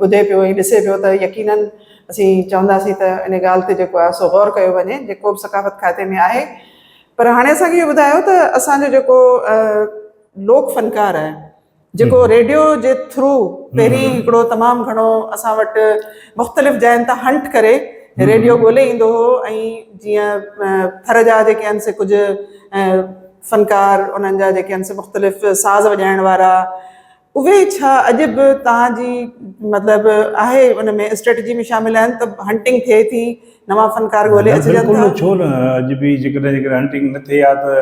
S1: ٻڌي پيو ۽ ڏسي پيو ته يقيناً اسين چونداسين ته ان ڳالهه تي جيڪو آهي سو غور ڪيو وڃي جيڪو به ثقافت کاتي ۾ آهي پر هاڻي اسان کي اهو ٻڌايو ته اسان جو جيڪو لوڪ فنڪار آهي جيڪو ريڊيو جي ٿرو پهرين هڪڙو تمام گهڻو اسان وٽ مختلف جاين تان هنٽ ڪري ريڊيو ڳولي ايندو هو ۽ جيئن ٿر جا جيڪي آهن سي ڪجهه فنڪار انهن جا جيڪي آهن سي مختلف ساز وڄائڻ وارا اهي ڇا اڄ به توهان جي مطلب آهي ان ۾ اسٽريٽجي ۾ شامل آهن ته هنٽنگ ٿئي ٿي نوان فنڪار ڳولي اچجن ٿا ڇو نه اڄ به
S2: جيڪڏهن جيڪڏهن هنٽنگ نه ٿئي ها ته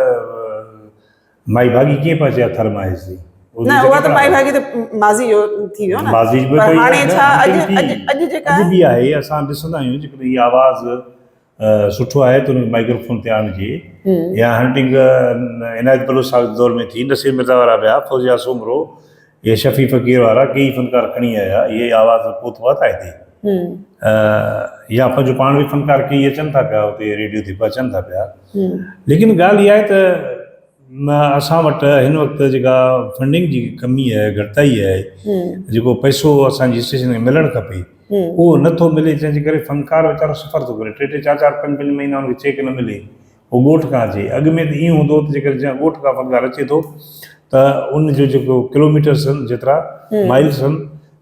S2: مائي ڀاڳي ڪنهن پاسي آ ٿر مان هيسي. نه اها ته مائي
S1: ڀاڳي ته ماضي جو ٿي ويو نه. ماضي جو پر هاڻي ڇا اڄ اڄ جيڪا اڄ به آهي اسان
S2: ڏسندا آهيون جيڪڏهن هي آواز سٺو آهي ته هنکي مائڪرو فون تي آڻجي يا هنٽنگ عنايت بلوچ صاحب جي دور ۾ ٿي نصير مرزا وارا ٻيا فوزيا سومرو اهي شفيع فقير وارا ڪيئي فنڪار کڻي آيا، اهي ئي آواز پوت هئا ٿا هتي. يا پنهنجو پاڻ به فنڪار ڪيئي اچن ٿا پيا هتي ريڊيو تي به اچن ٿا پيا. ليڪن ڳالهه اها آهي ته اسان وٽ هن وقت جيڪا فنڊنگ جي ڪمي آهي، گهٽتائي آهي، جيڪو پئسو اسان جي اسٽيشن کي ملڻ کپي، اهو نه ٿو ملي، جنهن جي ڪري فنڪار ويچارو سفر ٿو ڪري، ٽي ٽي چار چار پنج پنج مهينا ان کي چيڪ نه ملي، هو ڳوٺ کان اچي. اڳ ۾ ته ائين هوندو هو ته جيڪڏهن جيئن ڳوٺ کان فنگار اچي ٿو ته ان جو جيڪو ڪلوميٽرس هن جيترا مائلس هن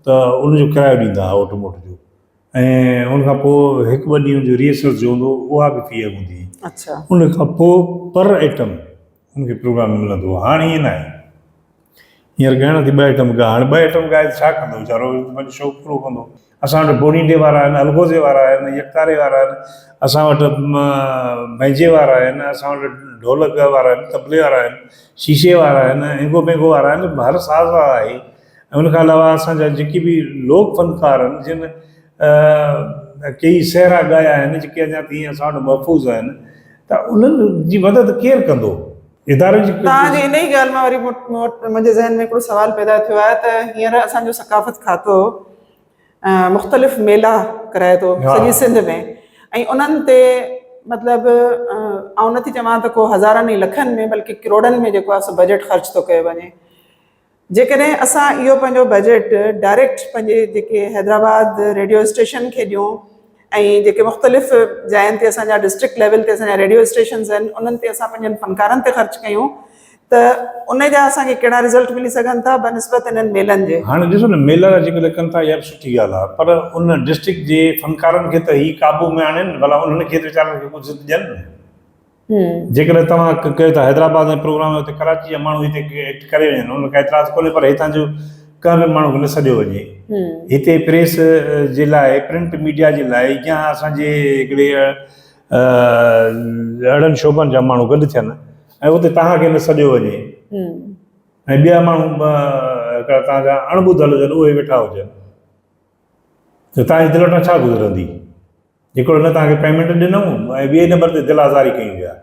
S2: ته ان جو ڪرايو ڏيندا هئا اوٽ موٽ جو ۽ ان کان پوء هڪ ٻه ڏينهن جو ريهرسل جو هوندو هو اها به في هوندي هئي. ان کان پوء پر ايٽم ان کي پروگرام ملندو هو. هاڻ ائين ناهي. هينئر ڳائڻا ٿي ٻه ائٽم ڳاء هاڻي ٻه ائٽم ڳائي ته ڇا ڪندو ويچارو پنهنجو شوق پورو ڪندو اسان وٽ بونيٽي وارا آهن الغوزي وارا آهن يڪتاري وارا آهن اسان وٽ بئنجي وارا آهن اسان وٽ ڍولڪ وارا آهن طبلي وارا آهن شيشي وارا آهن هينگو پينگو وارا آهن هر ساز وارا آهي ۽ ان کان علاوه اسان جا جيڪي به لوڪ فنڪار آهن جن ڪيئي سهرا ڳايا آهن جيڪي اڃا تائين اسان وٽ محفوظ آهن ته انهن جي مدد ڪير ڪندو اداري جي توهان جي انهي ڳالهه مان
S1: وري منهنجي ذهن ۾ هڪڙو سوال پيدا ٿيو آهي ته هينئر اسان جو ثقافت کاتو مختلف ميلا ڪرائي ٿو سڄي سنڌ ۾ ۽ انهن تي مطلب آئون نٿي چوان ته ڪو هزارن ۽ لکن ۾ بلڪه ڪروڙن ۾ جيڪو آهي سو بجيٽ خرچ ٿو ڪيو وڃي جيڪڏهن اسان اهو پنهنجو بجيٽ ڊائريڪٽ پنهنجي جيڪي حيدرآباد ريڊيو اسٽيشن کي ڏيون ۽ جيڪي مختلف جاين تي اسان جا ڊسٽرڪٽ ليول تي اسان جا ريڊيو اسٽيشنز آهن انهن تي اسان پنهنجن فنڪارن تي خرچ ڪيون ته ان جا اسان کي ڪهڙا رزلٽ ملي سگهن ٿا بنسبت انهن ميلن جي. هاڻي ڏسو نه ميلا جا ذڪر
S2: ڪن ٿا اها به سٺي ڳالهه آهي پر ان ڊسٽرڪٽ جي فنڪارن کي ته هي قابو ۾ آڻين ڀلا انهن کي ته ويچارن کي ڪجهه ته ڏين. جيڪڏهن توهان ڪهيو ته حيدرآباد ۾ پروگرام آهي اتي ڪراچي جا ماڻهو هتي ايڪٽ ڪري وڃن ان ۾ ڪا اعتراض ڪونهي پر هتان جو ڪنهن به ماڻهو کي نه سڏيو وڃي هتي پريس جي لاء پرنٽ ميڊيا جي لاء يا اسان جي هڪڙي اهڙن شعبن جا ماڻهو گڏ ٿين ۽ اتي توهان کي نه سڏيو وڃي ۽ ٻيا ماڻهو هڪڙا توهان جا اڻ ٻڌل هجن اهي ويٺا هجن. ته توهان جي دل وٽان ڇا گذرندي؟ جيڪو هن توهان کي پيمينٽ ڏنو ۽ ٻئي نمبر تي دل آزاري ڪيون ويا.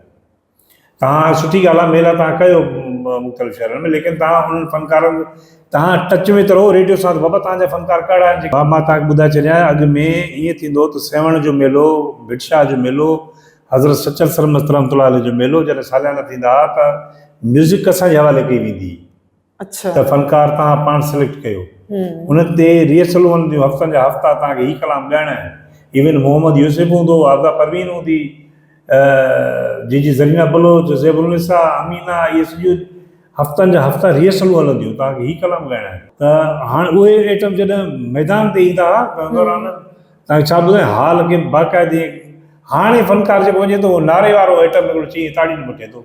S2: توهان سٺي ڳالهه آهي ميلا توهان ڪيو مختلف شهرن ۾ ليڪن توهان انهن فنڪارن توهان ٽچ ۾ ته رهو ريڊيو ساز بابا توهان جا فنڪار ڪهڙا آهن جيڪي. ها مان توهان کي ٻڌائي ڇڏيان اڳ ۾ ائين ٿيندو هو ته سيوهڻ جو ميلو، ڀٽ شاهه جو ميلو، حضرت سچل سرمست رحمت الله عليه جو ميلو جڏهن ساليانا ٿيندا ها ته ميوزڪ اسان جي حوالي ڪئي ويندي هئي. ته
S1: فنڪار توهان
S2: پاڻ سليڪٽ ڪيو. ان تي ريهرسلون هلنديون، هفتن جا هفتا توهان کي هي ڪلام ڳائڻا آهن. ايون محمد يوسف هوندو، عاذا پروين هوندي، جي جي زرينه بلوچ، زيب النساء، امينه اهي سڄيون هفتن جا هفتا ريهرسلون هلنديون، توهان کي هي ڪلام ڳائڻا آهن. ته هاڻ اهي ايٽم جڏهن ميدان تي ايندا ها ته ان دوران تنهن ڇا ٻڌايان حال کي باقاعدي هاڻي فنڪار جيڪو وڃي ٿو نعري وارو آئٽم هڪڙو چئي تاڙين مٽي ٿو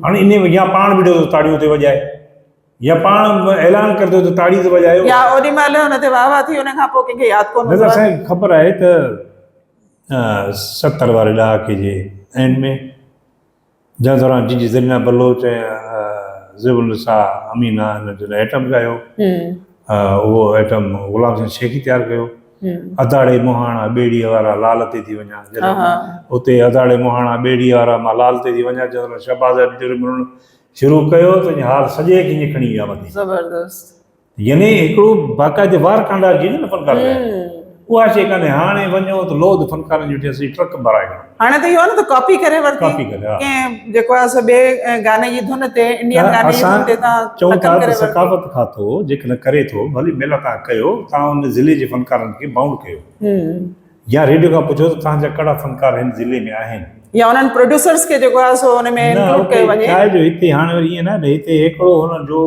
S2: هاڻي انهي ۾ يا پاڻ بيٺو ٿو تاڙيون ٿي وڄائي يا پاڻ اعلان ڪري ٿو ته تاڙي ٿي وڄايو يا اوني مهل ان تي
S1: واهه واهه ٿي ان کان پوء ڪنهن کي ياد ڪونه نظر سائين خبر آهي
S2: ته ستر واري ڏهاڪي جي اينڊ ۾ جنهن دوران جي جي زرينه بلوچ ۽ ذيب النساء امينه هن جو ايٽم ڳايو. اهو ايٽم غلام حسين شيخي تيار ڪيو. اڌاڙي مهاڻا ٻيڙيء وارا لال تي ٿي وڃان جڏهن اتي اڌاڙي مهاڻا ٻيڙيء وارا مان لال تي ٿي وڃان جنهن دوران شهباز ايٽم جو رمرڻ شروع ڪيو ته اڃا حال سڄي کي اڃا کڻي ويا مٿي. زبردست.
S1: يعني
S2: هڪڙو باقاعده وار ڪانڊار جي نه فنڪار لاء اها شي ڪانهي هاڻي وڃو ته لوڌ فنڪارن جي ٽيسي ٽرڪ ڀرائي وڃو هاڻي ته اهو آهي نه ته
S1: ڪاپي ڪري ورتي ڪاپي ڪري ها ڪنهن
S2: جيڪو آهي سو ٻي
S1: گاني جي ڌن تي انڊين گاني جي ڌن تي تان چون ٿا ته ثقافت
S2: کاتو جيڪڏهن ڪري ٿو ڀلي ميلا تان ڪيو تان ان ضلعي جي فنڪارن کي بائونڊ ڪيو يا ريڊيو کان پڇو ته تان جا ڪهڙا فنڪار هن ضلعي ۾ آهن يا انهن پروڊيوسرز
S1: کي جيڪو آهي سو ان ۾ انڪلوڊ ڪيو وڃي نه جو هتي هاڻي وري
S2: ائين نه هتي هڪڙو هن جو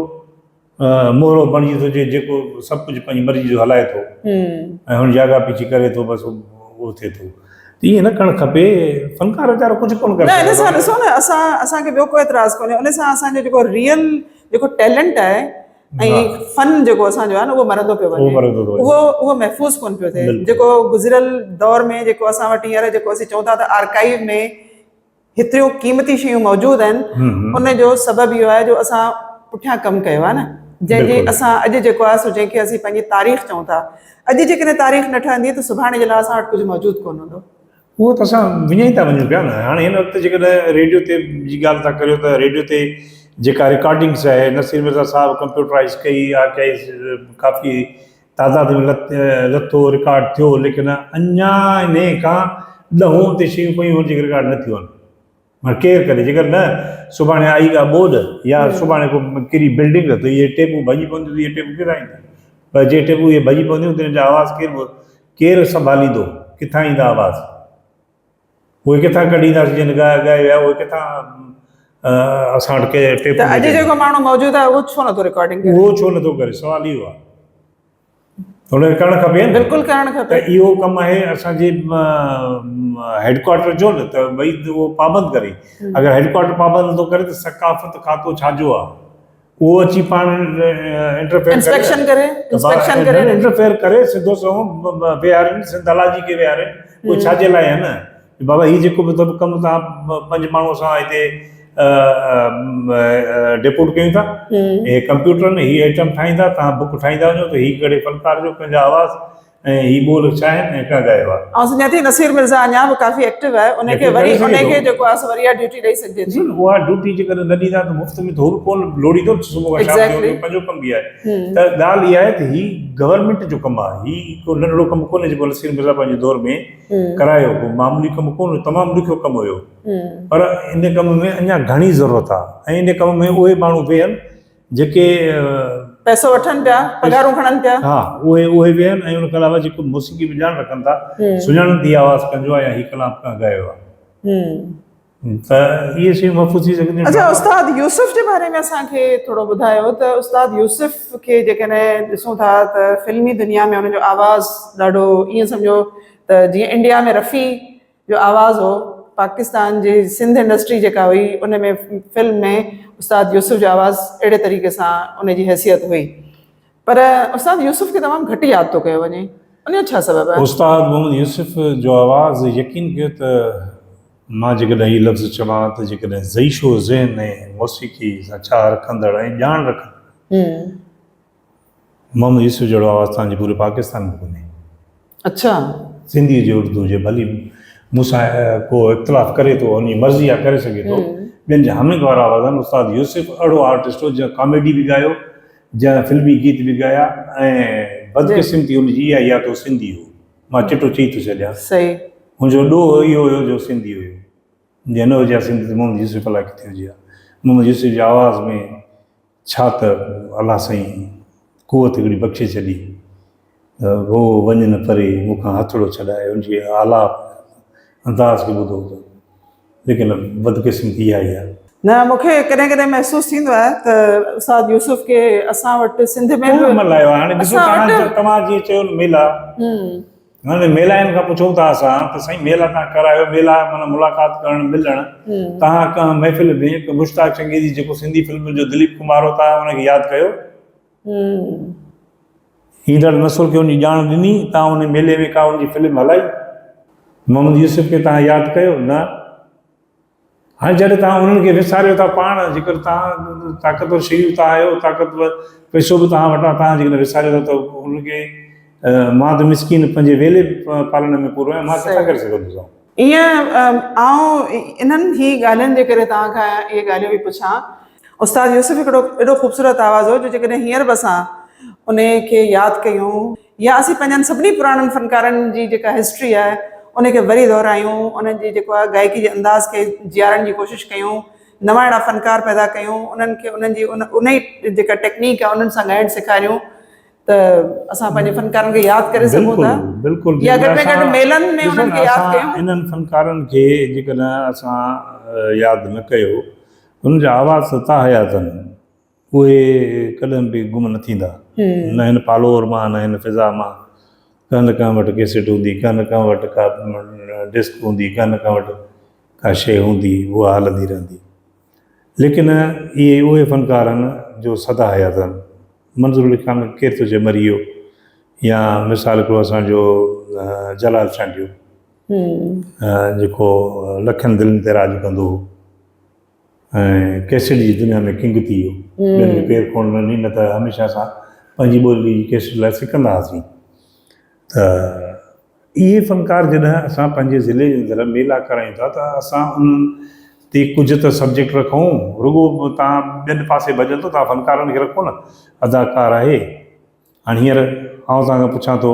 S2: مورو بڻجي ٿو جي جيڪو سڀ ڪجهه پنهنجي مرضي جو هلائي ٿو ۽ هن جي آڳا پيڇي ڪري ٿو بس اهو ٿئي ٿو ائين نه ڪرڻ کپي فنڪار ويچارو ڪجهه ڪونه ڪري سگهندو نه هن سان ڏسو نه اسان
S1: اسان کي ٻيو ڪو اعتراض ڪونهي ان سان اسان جو جيڪو ريئل جيڪو ٽيلنٽ آهي ۽ فن جيڪو اسان جو آهي نه اهو مرندو پيو وڃي اهو مرندو ٿو وڃي اهو اهو محفوظ ڪونه پيو ٿئي جيڪو گذريل دور ۾ جيڪو اسان وٽ هينئر جيڪو اسين چئون ٿا ته آرڪائيو ۾ هيتريون قيمتي شيون موجود آهن ان جو سبب اهو آهي جو اسان پٺيان ڪم ڪيو آهي نه جنهن جي اسان اڄ جيڪو آهي سو جنهن کي اسين پنهنجي تاريخ چئون ٿا اڄ جيڪڏهن تاريخ نه ٺهندي ته سڀاڻي جي لاء اسان وٽ ڪجهه موجود ڪون هوندو اهو ته اسان
S2: وڃي ٿا وڃون پيا نه هاڻي هن وقت جيڪڏهن ريڊيو تي جي ڳالهه ٿا ڪريو ته ريڊيو تي جيڪا رڪارڊنگس آهي نصير مرزا صاحب ڪمپيوٽرائز ڪئي آرڪائز ڪافي تعداد ۾ لٿو رڪارڊ ٿيو ليڪن اڃا انهيء کان ڏهون تي شيون پيون آهن جيڪي رڪارڊ نه ٿيون آهن ڪير ڪري جيڪر نه سڀاڻي آئي ڪا ٻوڏ يا سڀاڻي ڪو ڪري بلڊنگ ته اهي ٽيپون ڀڄي پونديون ته اهي ٽيپون ڪير آئيندا پر جي ٽيپون اهي ڀڄي پونديون ته ان جا آواز ڪير ڪير سنڀاليندو ڪٿان ايندا آواز اهي ڪٿان ڪڍينداسين جن ڳائي ڳائي ويا اهي ڪٿان اسان وٽ ڪنهن ٽيپ ته اڄ جيڪو ماڻهو موجود
S1: آهي اهو ڇو نٿو رڪارڊنگ ڪري اهو ڇو نٿو ڪري سوال
S2: اهو آهي هن کي ڪرڻ کپي ها نه بلڪل ڪرڻ کپي ته
S1: اهو ڪم آهي
S2: اسان جي هيڊ ڪوارٽر جو نه ته ڀئي اهو پابند ڪري اگر هيڊ ڪوارٽر پابند نٿو ڪري ته ثقافت کاتو ڇا جو آهي اهو اچي پاڻ انٽرفيئر
S1: انسپيڪشن ڪري انسپيڪشن ڪري انٽرفيئر ڪري
S2: سڌو سنئون ويهارين سنڌ هلا جي کي ويهارين اهو ڇا جي لاء آهي نه بابا هي جيڪو به سڀ ڪم تان پنج ماڻهو اسان هتي ڊپوٽ ڪيون ٿا هي ڪمپيوٽر ۾ هي آئٽم ٺاهيندا تان بڪ ٺاهيندا وڃو ته هي ڪهڙي فنڪار جو پنهنجا آواز ۽ هي ٻول شاهد ۽ ڪا ڳايو آهي. آئون سمجهان ٿي نصير مرزا
S1: اڃا به ڪافي ايڪٽو آهي ان کي وري ان کي جيڪو آهي سو وري اها ڊيوٽي ڏئي سگهجي ٿي. ڏسو اها ڊيوٽي جيڪڏهن نه
S2: ڏيندا ته مفت ۾ ته هو به ڪونه لوڙيندو نه صبح کان شام جو پنهنجو ڪم به آهي ته ڳالهه اها آهي ته هي گورنمينٽ جو ڪم آهي هي ڪو ننڍڙو ڪم ڪونه جيڪو نصير مرزا پنهنجي دور ۾ ڪرايو ڪو معمولي ڪم ڪونه تمام ڏکيو ڪم هيو پر ان ڪم ۾ اڃا گهڻي ضرورت آهي ۽ ان ڪم ۾ اهي ماڻهو ويهن جيڪي پئسو
S1: وٺن پيا پگهارون کڻن پيا ها اهي اهي به
S2: آهن ۽ ان کان علاوه جيڪو موسيقي به ڄاڻ رکن ٿا سڃاڻن ٿي آواز ڪنجو آهي يا هي ڪلام ڪنهن ڳايو آهي ته اهي شيون محفوظ ٿي سگهنديون اچا استاد يوسف
S1: جي باري ۾ اسان کي ٿورو ٻڌايو ته استاد يوسف کي جيڪڏهن ڏسون ٿا ته فلمي دنيا ۾ ان جو آواز ڏاڍو ائين سمجهو ته جيئن انڊيا ۾ رفي جو آواز هو پاڪستان جي سنڌ انڊسٽري جيڪا هئي ان ۾ فلم ۾ استاد يوسف جو آواز اهڙي طريقي سان ان جي حيثيت هئي پر استاد يوسف کي تمام گهٽ ياد ٿو ڪيو وڃي ان جو ڇا سبب آهي؟ استاد محمد يوسف
S2: جو آواز يقين ڪيو ته مان جيڪڏهن هي لفظ چوان ته جيڪڏهن زئي شو ذهن ۾ موسيقي سان چاهه رکندڙ ۽ ڄاڻ رکندڙ محمد يوسف جهڙو آواز توهان جي پوري پاڪستان ۾ ڪونهي. اڇا. سنڌي هجي اردو هجي ڀلي مون سان ڪو اختلاف ڪري ٿو ان جي مرضي آ ڪري سگهي ٿو ٻين جا حميد وارا آواز آهن استاد يوسف اهڙو آرٽسٽ هو جنهن ڪاميڊي به ڳايو جنهن فلمي گيت به ڳايا ۽ بدقسمتي ان جي اها هئي ته هو سنڌي هو مان چٽو چئي ٿو ڇڏيان صحيح هن جو
S1: ڏوهه
S2: اهو هيو جو سنڌي هيو جي نه هجي ها سنڌي ته محمد يوسف الاء ڪٿي هجي ها محمد يوسف جي آواز ۾ ڇا ته الله سائين قوت هڪڙي بخشي ڇڏي ته هو وڃ نه پري مون کان هٿڙو ڇڏائي ان جي آلاپ انداز کي ٻڌو ته ليڪن بدقسمتي اها ئي آهي. نه مون کي ڪڏهن
S1: ڪڏهن محسوس ٿيندو آهي ته استاد يوسف کي اسان وٽ سنڌ ۾ به اسان
S2: وٽ. هن جي ميلاين کان پڇون ٿا اسان ته سائين ميلا تان ڪرايو ميلا معنيٰ ملاقات ڪرڻ ملڻ تهان ڪنهن محفل ۾ ڪي مشتاق چنگيزي جيڪو سنڌي فلمن جو دليپ ڪمار هو تهان ان کي ياد ڪيو ايندڙ نسل کي ان جي ڄاڻ ڏني تهان ان ميلي ۾ ڪا ان جي فلم هلائي محمد يوسف کي تهان ياد ڪيو نه هاڻي جڏهن توهان انهن کي وساريو ٿا پاڻ، جيڪڏهن توهان طاقتور شيون تان آهيو، طاقتور پئسو به توهان وٽ آهي، توهان جيڪڏهن وساريو ٿا ته انهن کي مان ته مسڪين پنهنجي ويلي پالڻ ۾ پورو آهيان، مان ڪٿان ڪري سگهندو سان. ايئن
S1: آئون انهن ئي ڳالهين جي ڪري توهان کان اهي ڳالهيون پئي پڇان. استاد يوسف هڪڙو ايڏو خوبصورت آواز هو جو جيڪڏهن هينئر به اسان انهي کي ياد ڪيون. يا اسين پنهنجن سڀني پراڻن فنڪارن جي جيڪا هسٽري آهي ان کي وري دهرايون، انهن جي جيڪو آهي گائڪي جي انداز کي جيارڻ جي ڪوشش ڪيون، نوان اهڙا فنڪار پيدا ڪيون، انهن کي انهن جي ان ئي جيڪا ٽيڪنيڪ آهي انهن سان ڳائڻ سيکاريون ته اسان پنهنجي فنڪارن کي ياد ڪري سگهون ٿا يا گهٽ ۾
S2: گهٽ ميلن
S1: ۾ انهن کي ياد ڪيون. انهن فنڪارن کي
S2: جيڪڏهن اسان ياد نه ڪيو انهن جا آواز ته تاحيات آهن اهي ڪڏهن به گم نه ٿيندا. نه هن پالور مان نه هن فضا مان. ڪنهن نه ڪنهن وٽ ڪيسٽ هوندي، ڪنهن نه ڪنهن وٽ ڪا ڊسڪ هوندي، ڪنهن نه ڪنهن وٽ ڪا شيء هوندي، اها هلندي رهندي. ليڪن اهي اهي فنڪار آهن جو سدا حيات آهن. منظور علي خان ڪير ٿو چئي مري ويو يا مثال هڪڙو اسان جو جلال چانڊيو جيڪو لکن دلين تي راڄ ڪندو هو. ۽ ڪيسٽ جي دنيا ۾ ڪنگ ٿي ويو. ٻين کي پير ڪونه ڏني، نه ته هميشه اسان پنهنجي ٻولي جي ڪيسٽ لاء سڪندا هئاسين. ته اهي فنڪار جڏهن اسان پنهنجي ضلعي جي اندر ميلا ڪرايون ٿا ته اسان انهن تي ڪجهه ته سبجيڪٽ رکون، رڳو توهان ٻين پاسي ڀڄندو، توهان فنڪارن کي رکو نه، اداڪار آهي. هاڻي هينئر آئون توهان کان پڇان ٿو.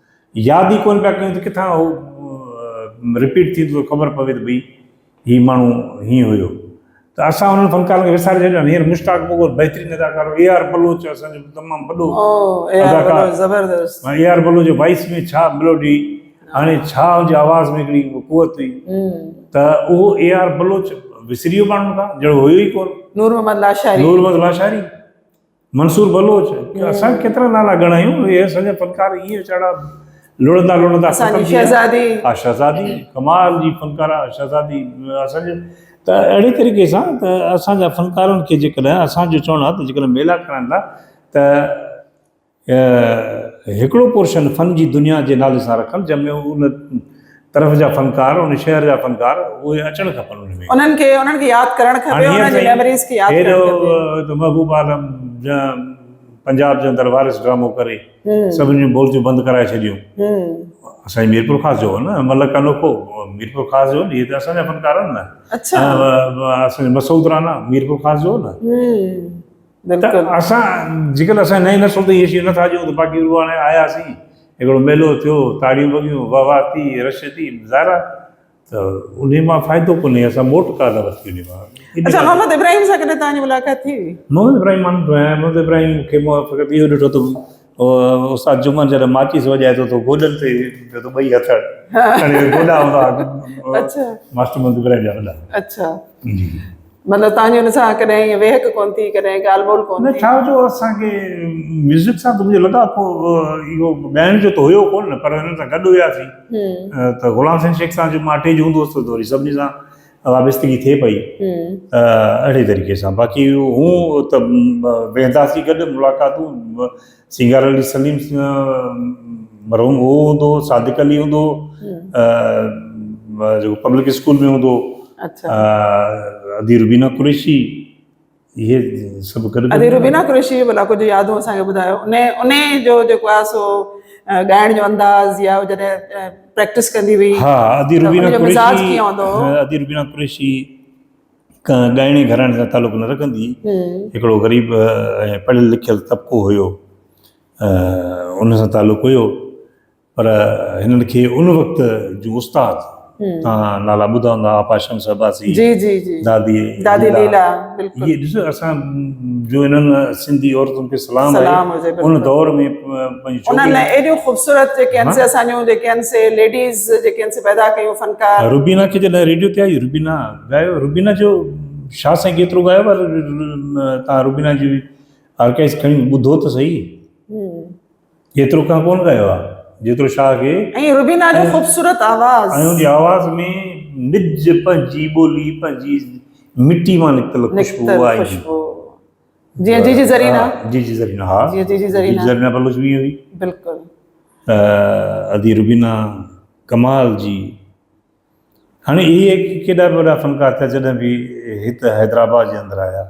S2: ياد ئي ڪونه پيا ڪيون ته ڪٿان اهو رپيٽ ٿيندو ته خبر پوي ته ڀئي هي ماڻهو هيئن هيو ته اسان انهن فنڪارن کي وساري ڇڏيو آهن هينئر مشتاق مغل بهترين اداڪار اي آر بلوچ اسان جو تمام وڏو اداڪار زبردست اي
S1: آر بلوچ جو وائس
S2: ۾ ڇا ملوڊي هاڻي ڇا ان جي آواز ۾ هڪڙي قوت هئي ته اهو اي آر بلوچ وسري ويو ماڻهن کان جهڙو هيو ئي ڪونه نور محمد لاشاري
S1: نور محمد لاشاري
S2: منصور بلوچ، اسان ڪيترا نالا ڳڻايون، اهي اسان جا فنڪار ائين ويچارا لڙندا لڙندا ختم ٿي ويا. شهزادي. ها شهزادي، ڪمال جي فنڪاره شهزادي اسان جي ته اهڙي طريقي سان ته اسان جا فنڪارن کي جيڪڏهن اسان جو چوڻ آهي ته جيڪڏهن ميلا ڪرائڻ لاء ته هڪڙو پورشن فن جي دنيا جي نالي سان رکن جنهن ۾ ان طرف جا فنڪار ان شهر جا فنڪار اهي اچڻ کپن ان ۾. انهن کي انهن کي
S1: ياد ڪرڻ کپي هاڻي هيئر انهن جي سائين ميموريز کي ياد هي جو ڪرڻ کپي. جو محبوب عالم
S2: جنهن پنجاب جي اندر وارث ڊرامو ڪري سڀني جون بورچون بند ڪرائي ڇڏيون اسانجي ميرپور خاص جو هو نه ملڪ انوکو ميرپور خاص جو هو نه هي ته اسانجا فنڪار آهن نه اڇا. اسانجو مسعود رانا ميرپور خاص جو هو نه. بلڪل اسان جيڪڏهن اسان نئين نسل تائين اهي شيون نٿا ڏيون ته باقي رڳو هاڻي آياسين هڪڙو ميلو ٿيو تاڙيون وڳيون واهه واهه ٿي رش ٿي ظاهر آهي ته انهي مان فائدو ڪونهي اسان موٽ ڪا ٿا ورتي انهي مان اڇا محمد ابراهيم
S1: سان ڪڏهن توهان جي ملاقات ٿي هئي؟ محمد ابراهيم مان نه ٿو
S2: آهيان محمد ابراهيم کي مون فقط اهو ڏٺو ته استاد جمن جڏهن ماچيس وڄائي ٿو ته گوڏن تي پيو ته ٻئي هٿ کڻي گوڏا هوندا اچھا ماستر
S1: مند ابراهيم
S2: جا وڏا اچھا جي
S1: مطلب تان جو نسا ڪڏهن هي وهڪ ڪون ٿي ڪڏهن ڳالھ ٻول ڪون نه ڇا جو اسان کي
S2: ميوزڪ سان تمجي لڳا پو اهو ڳائڻ جو ته هيو ڪون پر هن سان گڏ هيا ٿي ته غلام حسين شيخ سان جو ماٽي جو هوندو هو ته وري سڀني سان وابستگي ٿئي پئي ته اهڙي طريقي سان باقي هون ته ويهنداسي گڏ ملاقاتون سينگار علي سليم مرحوم هو هوندو هو صادق علي هوندو هو جيڪو پبلڪ اسڪول ۾ هوندو هو
S1: ادي
S2: روبينا قريشي اهي سڀ گڏ ادي روبينا قريشي جو
S1: بلاڪو جو يادون اسان کي ٻڌايو ان ان جو جيڪو آ سو ڳائڻ جو انداز يا جڏهن پريڪٽس ڪندي هئي ها ادي روبينا
S2: قريشي
S1: ادي روبينا قريشي
S2: ڳائڻي گھراڻي سان تعلق نه رکندي هڪڙو غريب ۽ پڙهيل لکيل طبقو هيو ان سان تعلق هيو پر هنن کي ان وقت جون استاد تان نالا ٻڌا هوندا آپاشم صحباسي جي جي جي دادي
S1: دادي ليلا بلڪل هي ڏسو اسان
S2: جو انن سنڌي عورتن کي سلام سلام هجي ان دور ۾ انن لاء ايڏيون
S1: خوبصورت جيڪي ان سي اسان جو جيڪي ان سي ليڊيز جيڪي ان سي پيدا ڪيون فنڪار روبينا کي جڏهن ريڊيو
S2: تي آئي روبينا ڳايو روبينا جو شاهه سائين ڪيترو ڳايو پر تان روبينا جي آرڪائز کڻي ٻڌو ته صحيح ايترو ڪنهن ڪونه ڳايو آهي جيترو شاهه کي. ۽ روبينا جو
S1: خوبصورت آواز. ۽ ان جي آواز ۾
S2: نج پنهنجي ٻولي پنهنجي مٽي مان نڪتل خوشبو نڪتل آهي خوشبو جيئن جيجي زرينا
S1: جيجي زرينا ها جيئن جيجي زرينا
S2: جيجي زرينا
S1: بلوچ به ائين هئي
S2: بلڪل ادي روبينا ڪمال جي. هاڻي اهي ڪيڏا به وڏا فنڪار ٿيا جڏهن به هت حيدرآباد جي اندر آيا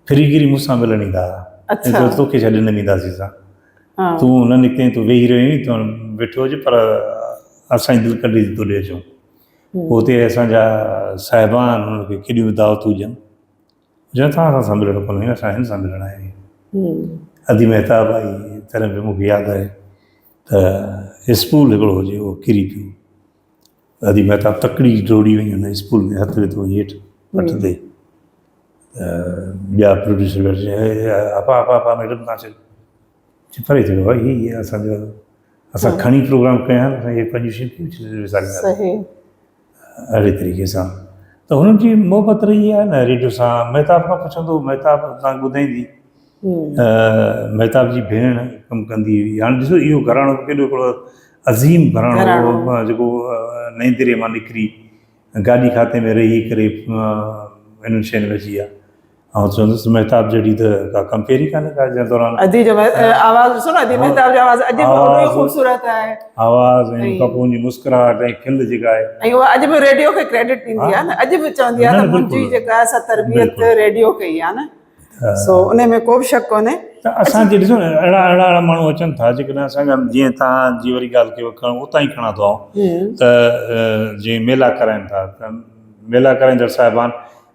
S2: پھرين گيري مون سان ملڻ ايندا ھا ۽ جو توکي ڇڏي نه وينداسين سان تون نه نڪتين تون ويھي رھيو آھين تون بيٺو ھج پر اسان جي دل ڪڍي ٿي تو ڏي اچون پوء اتي اسان جا صاحبان انهن کي ڪيڏيون به دعوتون ڏين جنهن سان اسان سان ملڻ ڪونهي اسان هن سان ملڻ آيا آهيون ادي مهتاب آئي تڏهن به مونکي ياد آهي ته اسڪول هڪڙو هجي هو ڪري پيو ادي مهتاب تڪڙي ڊوڙي وڃي هن اسڪول ۾ هٿ وڌو وڃي هيٺ پٽ تي ٻيا پروڊيوسر ويٺا چي ابا ابا ابا ميڊم تان چئي چي پري ٿي ويو هي هي اسان جو اسان کڻي پروگرام ڪيا آهن اسان کي پنجون شينهن ڪيئن وساريندا صحيح اهڙي طريقي سان ته هنن جي محبت رهي آهي نه ريڊيو سان مهتاب کان پڇندو مهتاب تان ٻڌائيندي مهتاب جي ڀيڻ ڪم ڪندي هئي هاڻي ڏسو اهو گهراڻو ڪيڏو هڪڙو عظيم گهراڻو هو جيڪو نئين دري مان نڪري گاڏي کاتي ۾ رهي ڪري انهن شين ۾ اچي ويا آئون چوندس مهتاب جهڙي ته ڪا ڪمپيئر ئي ڪانهي ڪا جنهن دوران ادي جو
S1: آواز ڏسو نه ادي مهتاب جو آواز اڄ به اهڙو خوبصورت آهي آواز ۽ ان کان پوء ان جي مسڪراهٽ ۽ کل جيڪا آهي ۽ اها اڄ به ريڊيو کي ڪريڊٽ ڏيندي آهي نه اڄ به چوندي آهي ته منهنجي جيڪا اسا تربيت ريڊيو ڪئي آهي نه سو ان ۾ ڪو به شڪ ڪونهي ته اسان کي ڏسو نه اهڙا اهڙا اهڙا ماڻهو اچن ٿا جيڪڏهن اسان کي جيئن تان جي وري ڳالهه کي کڻ اتان ئي کڻان ٿو آئون ته جيئن ميلا ڪرائين ٿا ته ميلا ڪرائيندڙ صاحبان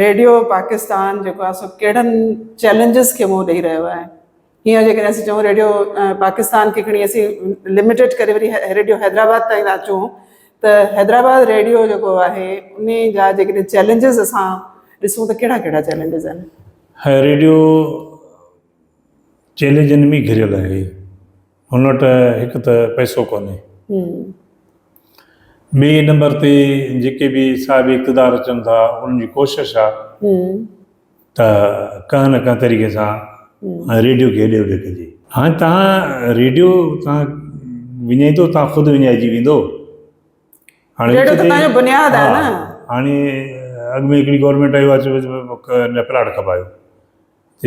S1: ريڊيو پاڪستان جيڪو آهي سو ڪهڙن چئلينجز کي منهن ڏئي رهيو آهي هينئر جيڪڏهن اسين چئون ريڊيو پاڪستان کي کڻي اسين لميٽيڊ ڪري وري ريڊيو حيدرآباد تائين ٿا اچون ته حيدرآباد ريڊيو جيڪو آهي ان جا جيڪڏهن چئلينجز اسان ڏسون ته ڪهڙا ڪهڙا چئلينجز آهن هاي ريڊيو چئلينجن ۾ گهريل آهي هن وٽ هڪ ته پئسو ڪونهي. ٻئي نمبر تي جيڪي به صاحب اقتدار اچن ٿا انهن جي ڪوشش آ ته ڪنهن نه ڪنهن طريقي سان ريڊيو کي هيڏي هوڏي ڪجي. هاڻي تهان ريڊيو تهان وڃائيندو تهان خود وڃائجي ويندو. هاڻي ريڊيو ته تهان جو بنياد آ نه. هاڻي اڳ ۾ هڪڙي گورنمينٽ آئي اها چيو ته پلاٽ کپايو.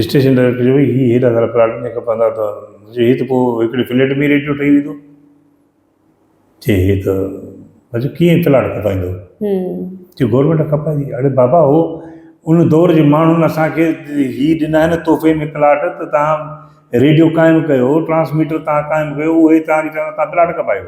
S1: اسٽيشن ڊائريڪٽر چيو ڀئي هي هيڏا سارا پلاٽ مون کي کپندا هئا ته مون چيو هي ته پوء هڪڙي فليٽ ۾ ئي ريڊيو ٺهي ويندو چي هي ته مون چيو ڪيئن پلاٽ کپائيندو چي گورنمينٽ کپائيندي اڙي بابا هو ان دور جي ماڻهن اسان کي هي ڏنا آهن تحفي ۾ پلاٽ ته تهان ريڊيو قائم ڪيو ٽرانسميٽر تهان قائم ڪيو اهي تهان کي چوندا تهان پلاٽ کپايو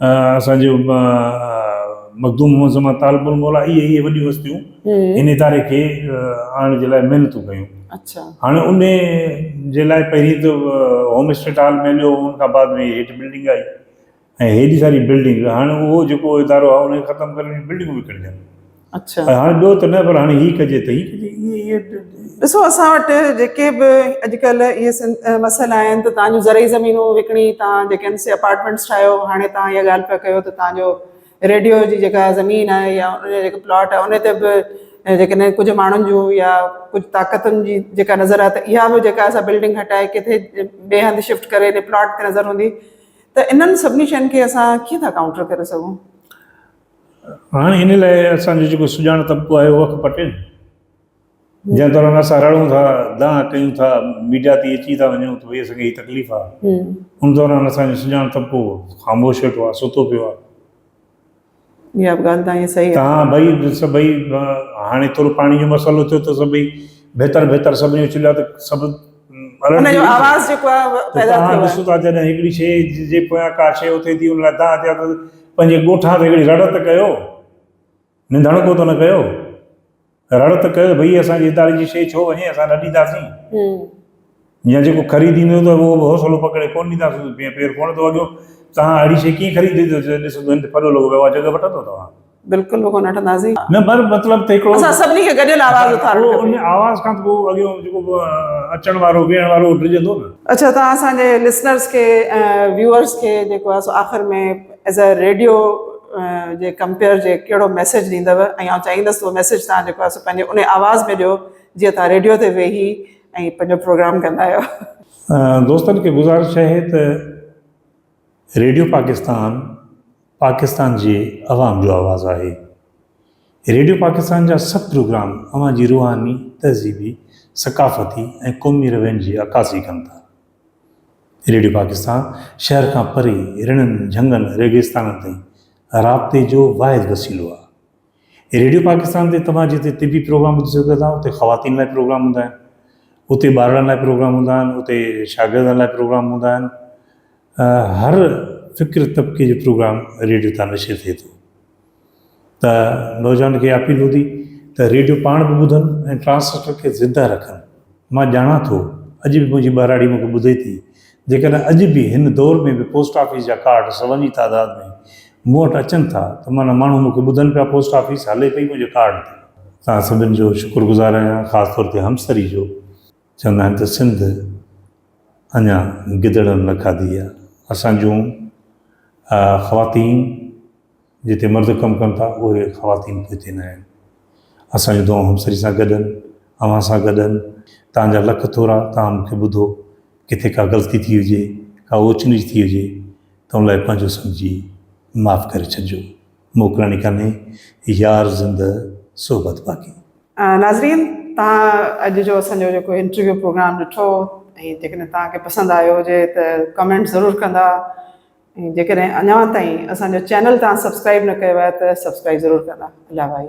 S2: اسان جو مخدوم محمد زمان طالب الموليٰ اهي اهي وڏيون هستيون هن اداري کي آڻڻ جي لاء محنتون ڪيون اچا هاڻي
S1: ان
S2: جي لاء پهرين ته هوم اسٽيٽ هال ۾ هليو ان کان بعد ۾ هيٺ بلڊنگ آئي ۽ هيڏي ساري بلڊنگ هاڻي اهو جيڪو ادارو آهي ان کي ختم ڪرڻ جي بلڊنگون وڪڻجن اڇا پر هاڻي
S1: ٻيو ته نه پر
S2: هاڻي هي ڪجي ته هي ڪجي اهي اهي ڏسو اسان
S1: وٽ جيڪي به اڄڪلهه اهي سن مسئلا آيا آهن ته تان جو زرعي زمينون وڪڻي تان جيڪي آهن سي اپارٽمينٽس ٺاهيو هاڻي تان اها ڳالهه پيا ڪيو ته تان جو ريڊيو جي جيڪا زمين آهي يا ان جا جيڪا پلاٽ آهي ان تي به جيڪڏهن ڪجهه ماڻهن جون يا ڪجهه طاقتن جي جيڪا نظر آهي ته اها به جيڪا اسان بلڊنگ هٽائي ڪٿي ٻئي هنڌ شفٽ ڪري ان پلاٽ تي نظر هوندي ته انهن سڀني شين کي اسان ڪيئن ٿا ڪائونٽر ڪري سگهون
S2: هاڻي ان لاء اسان جو جيڪو سڄاڻ طبقو آهي اهو اک پٽي نه. جنهن دوران اسان رڙون ٿا، دانهن ڪيون ٿا، ميڊيا تي اچي ٿا وڃون ته ڀئي اسان کي هي تڪليف آهي. ان دوران اسان جو سڄاڻ طبقو خاموش ويٺو آهي، ستو پيو آهي. اها
S1: به ڳالهه تهانجي صحيح آهي. ها ڀئي
S2: سڀئي هاڻي ترو پاڻي جو مسئلو ٿيو ته سڀئي بهتر بهتر سڀني اڇليا ته سڀ ان
S1: جو آواز جيڪو آهي اهو پيدا ٿيو آهي. توهان ڏسو ٿا جڏهن هڪڙي
S2: شيء جي پويان ڪا شيء اٿي ٿي ان لاء دانهن ٿيا ته پنهنجي ڳوٺان تي هڪڙي رڙ ته ڪيو، ننڌڻڪو ته نه ڪيو، رڙ ته ڪيو ته ڀئي اسان جي اداري جي شيء ڇو وڃي اسان نه ڏينداسين يا جيڪو خريد ايندو ته اهو به حوصلو پڪڙي ڪونه ڏينداسين، پير ڪونه ٿو وڳيو، توهان اهڙي شيء ڪيئن خريد ڏيندو جڏهن ڏسندو هن تي ڦڏو لڳو پيو آهي جڳهه وٺندو توهان. بلڪل به ڪونه اٺنداسين. نه پر مطلب ته هڪڙو. اسان سڀني کي گڏيل آواز
S1: اٿارڻ کپي. ان آواز کان ته پوء
S2: اڳيون جيڪو به اچڻ وارو ويهڻ وارو اهو ڊڄندو نه. اڇا توهان اسان جي لسنرز
S1: کي ۽ ويوئرز کي جيڪو آهي سو آخر ۾ ايز اي ريڊيو جي ڪمپيئر جي ڪهڙو ميسيج ڏيندو ۽ آئون چاهيندس ته اهو ميسيج توهان جيڪو آهي سو پنهنجي انهي آواز ۾ ڏيو جيئن توهان ريڊيو تي ويهي ۽ پنهنجو پروگرام ڪندا آهيو. دوستن
S2: کي گذارش آهي ته ريڊيو پاڪستان. پاڪستان جي عوام جو آواز آهي. ريڊيو پاڪستان جا سڀ پروگرام اوهان جي روحاني، تهذيبي، ثقافتي ۽ قومي روين جي عڪاسي ڪن ٿا. ريڊيو پاڪستان شهر کان پري رڻن، جهنگن، ريگستانن تائين رابطي جو واحد وسيلو آهي. ريڊيو پاڪستان تي توهان جتي طبي پروگرام ٻڌي سگهو ٿا اتي خواتين لاء پروگرام هوندا آهن، اتي ٻارڙن لاء پروگرام هوندا آهن، اتي شاگردن لاء پروگرام هوندا آهن. هر فڪر طبقي جو پروگرام ريڊيو تان نشر ٿئي ٿو ته نوجوان کي اپيل هوندي ته ريڊيو پاڻ به ٻڌن ۽ ٽرانسليٽر کي زنده رکن مان ڄاڻان ٿو اڄ به منهنجي ٻهراڙي مون کي ٻڌي ٿي جيڪڏهن اڄ به هن دور ۾ به پوسٽ آفيس جا ڪارڊ سون جي تعداد ۾ مون وٽ اچن ٿا ته معنيٰ ماڻهو مون کي ٻڌن پيا پوسٽ آفيس هلي پئي منهنجي ڪارڊ تي توهان سڀن جو شڪر گذار آهيان خاص طور تي همسري جو. چوندا آهن ته سنڌ اڃا گدڙن نه کاڌي آهي. اسان جون خواتين جتي مرد ڪم ڪن ٿا اهي خواتين به هتي نه آهن. اسان جون دعائون همسري سان گڏ آهن، اوهان سان گڏ آهن. توهان جا لک ٿورا، توهان مون کي ٻڌو. ڪٿي ڪا غلطي ٿي هجي، ڪا اوچ نيچ ٿي هجي ته ان لاء پنهنجو سمجهي معاف ڪري ڇڏجو. موڪلڻي ڪانهي يار زندهه صحبت باقي. ناظرين توهان اڄ جو اسان جو جيڪو انٽرويو پروگرام ڏٺو ۽ جيڪڏهن توهان کي پسند آيو هجي ته ڪمينٽ ضرور ڪندا ۽ جيڪڏهن اڃا تائين اسان جو چينل توهان سبسڪرائب نه ڪيو آهي ته سبسڪرائب ضرور ڪندا الله وائي.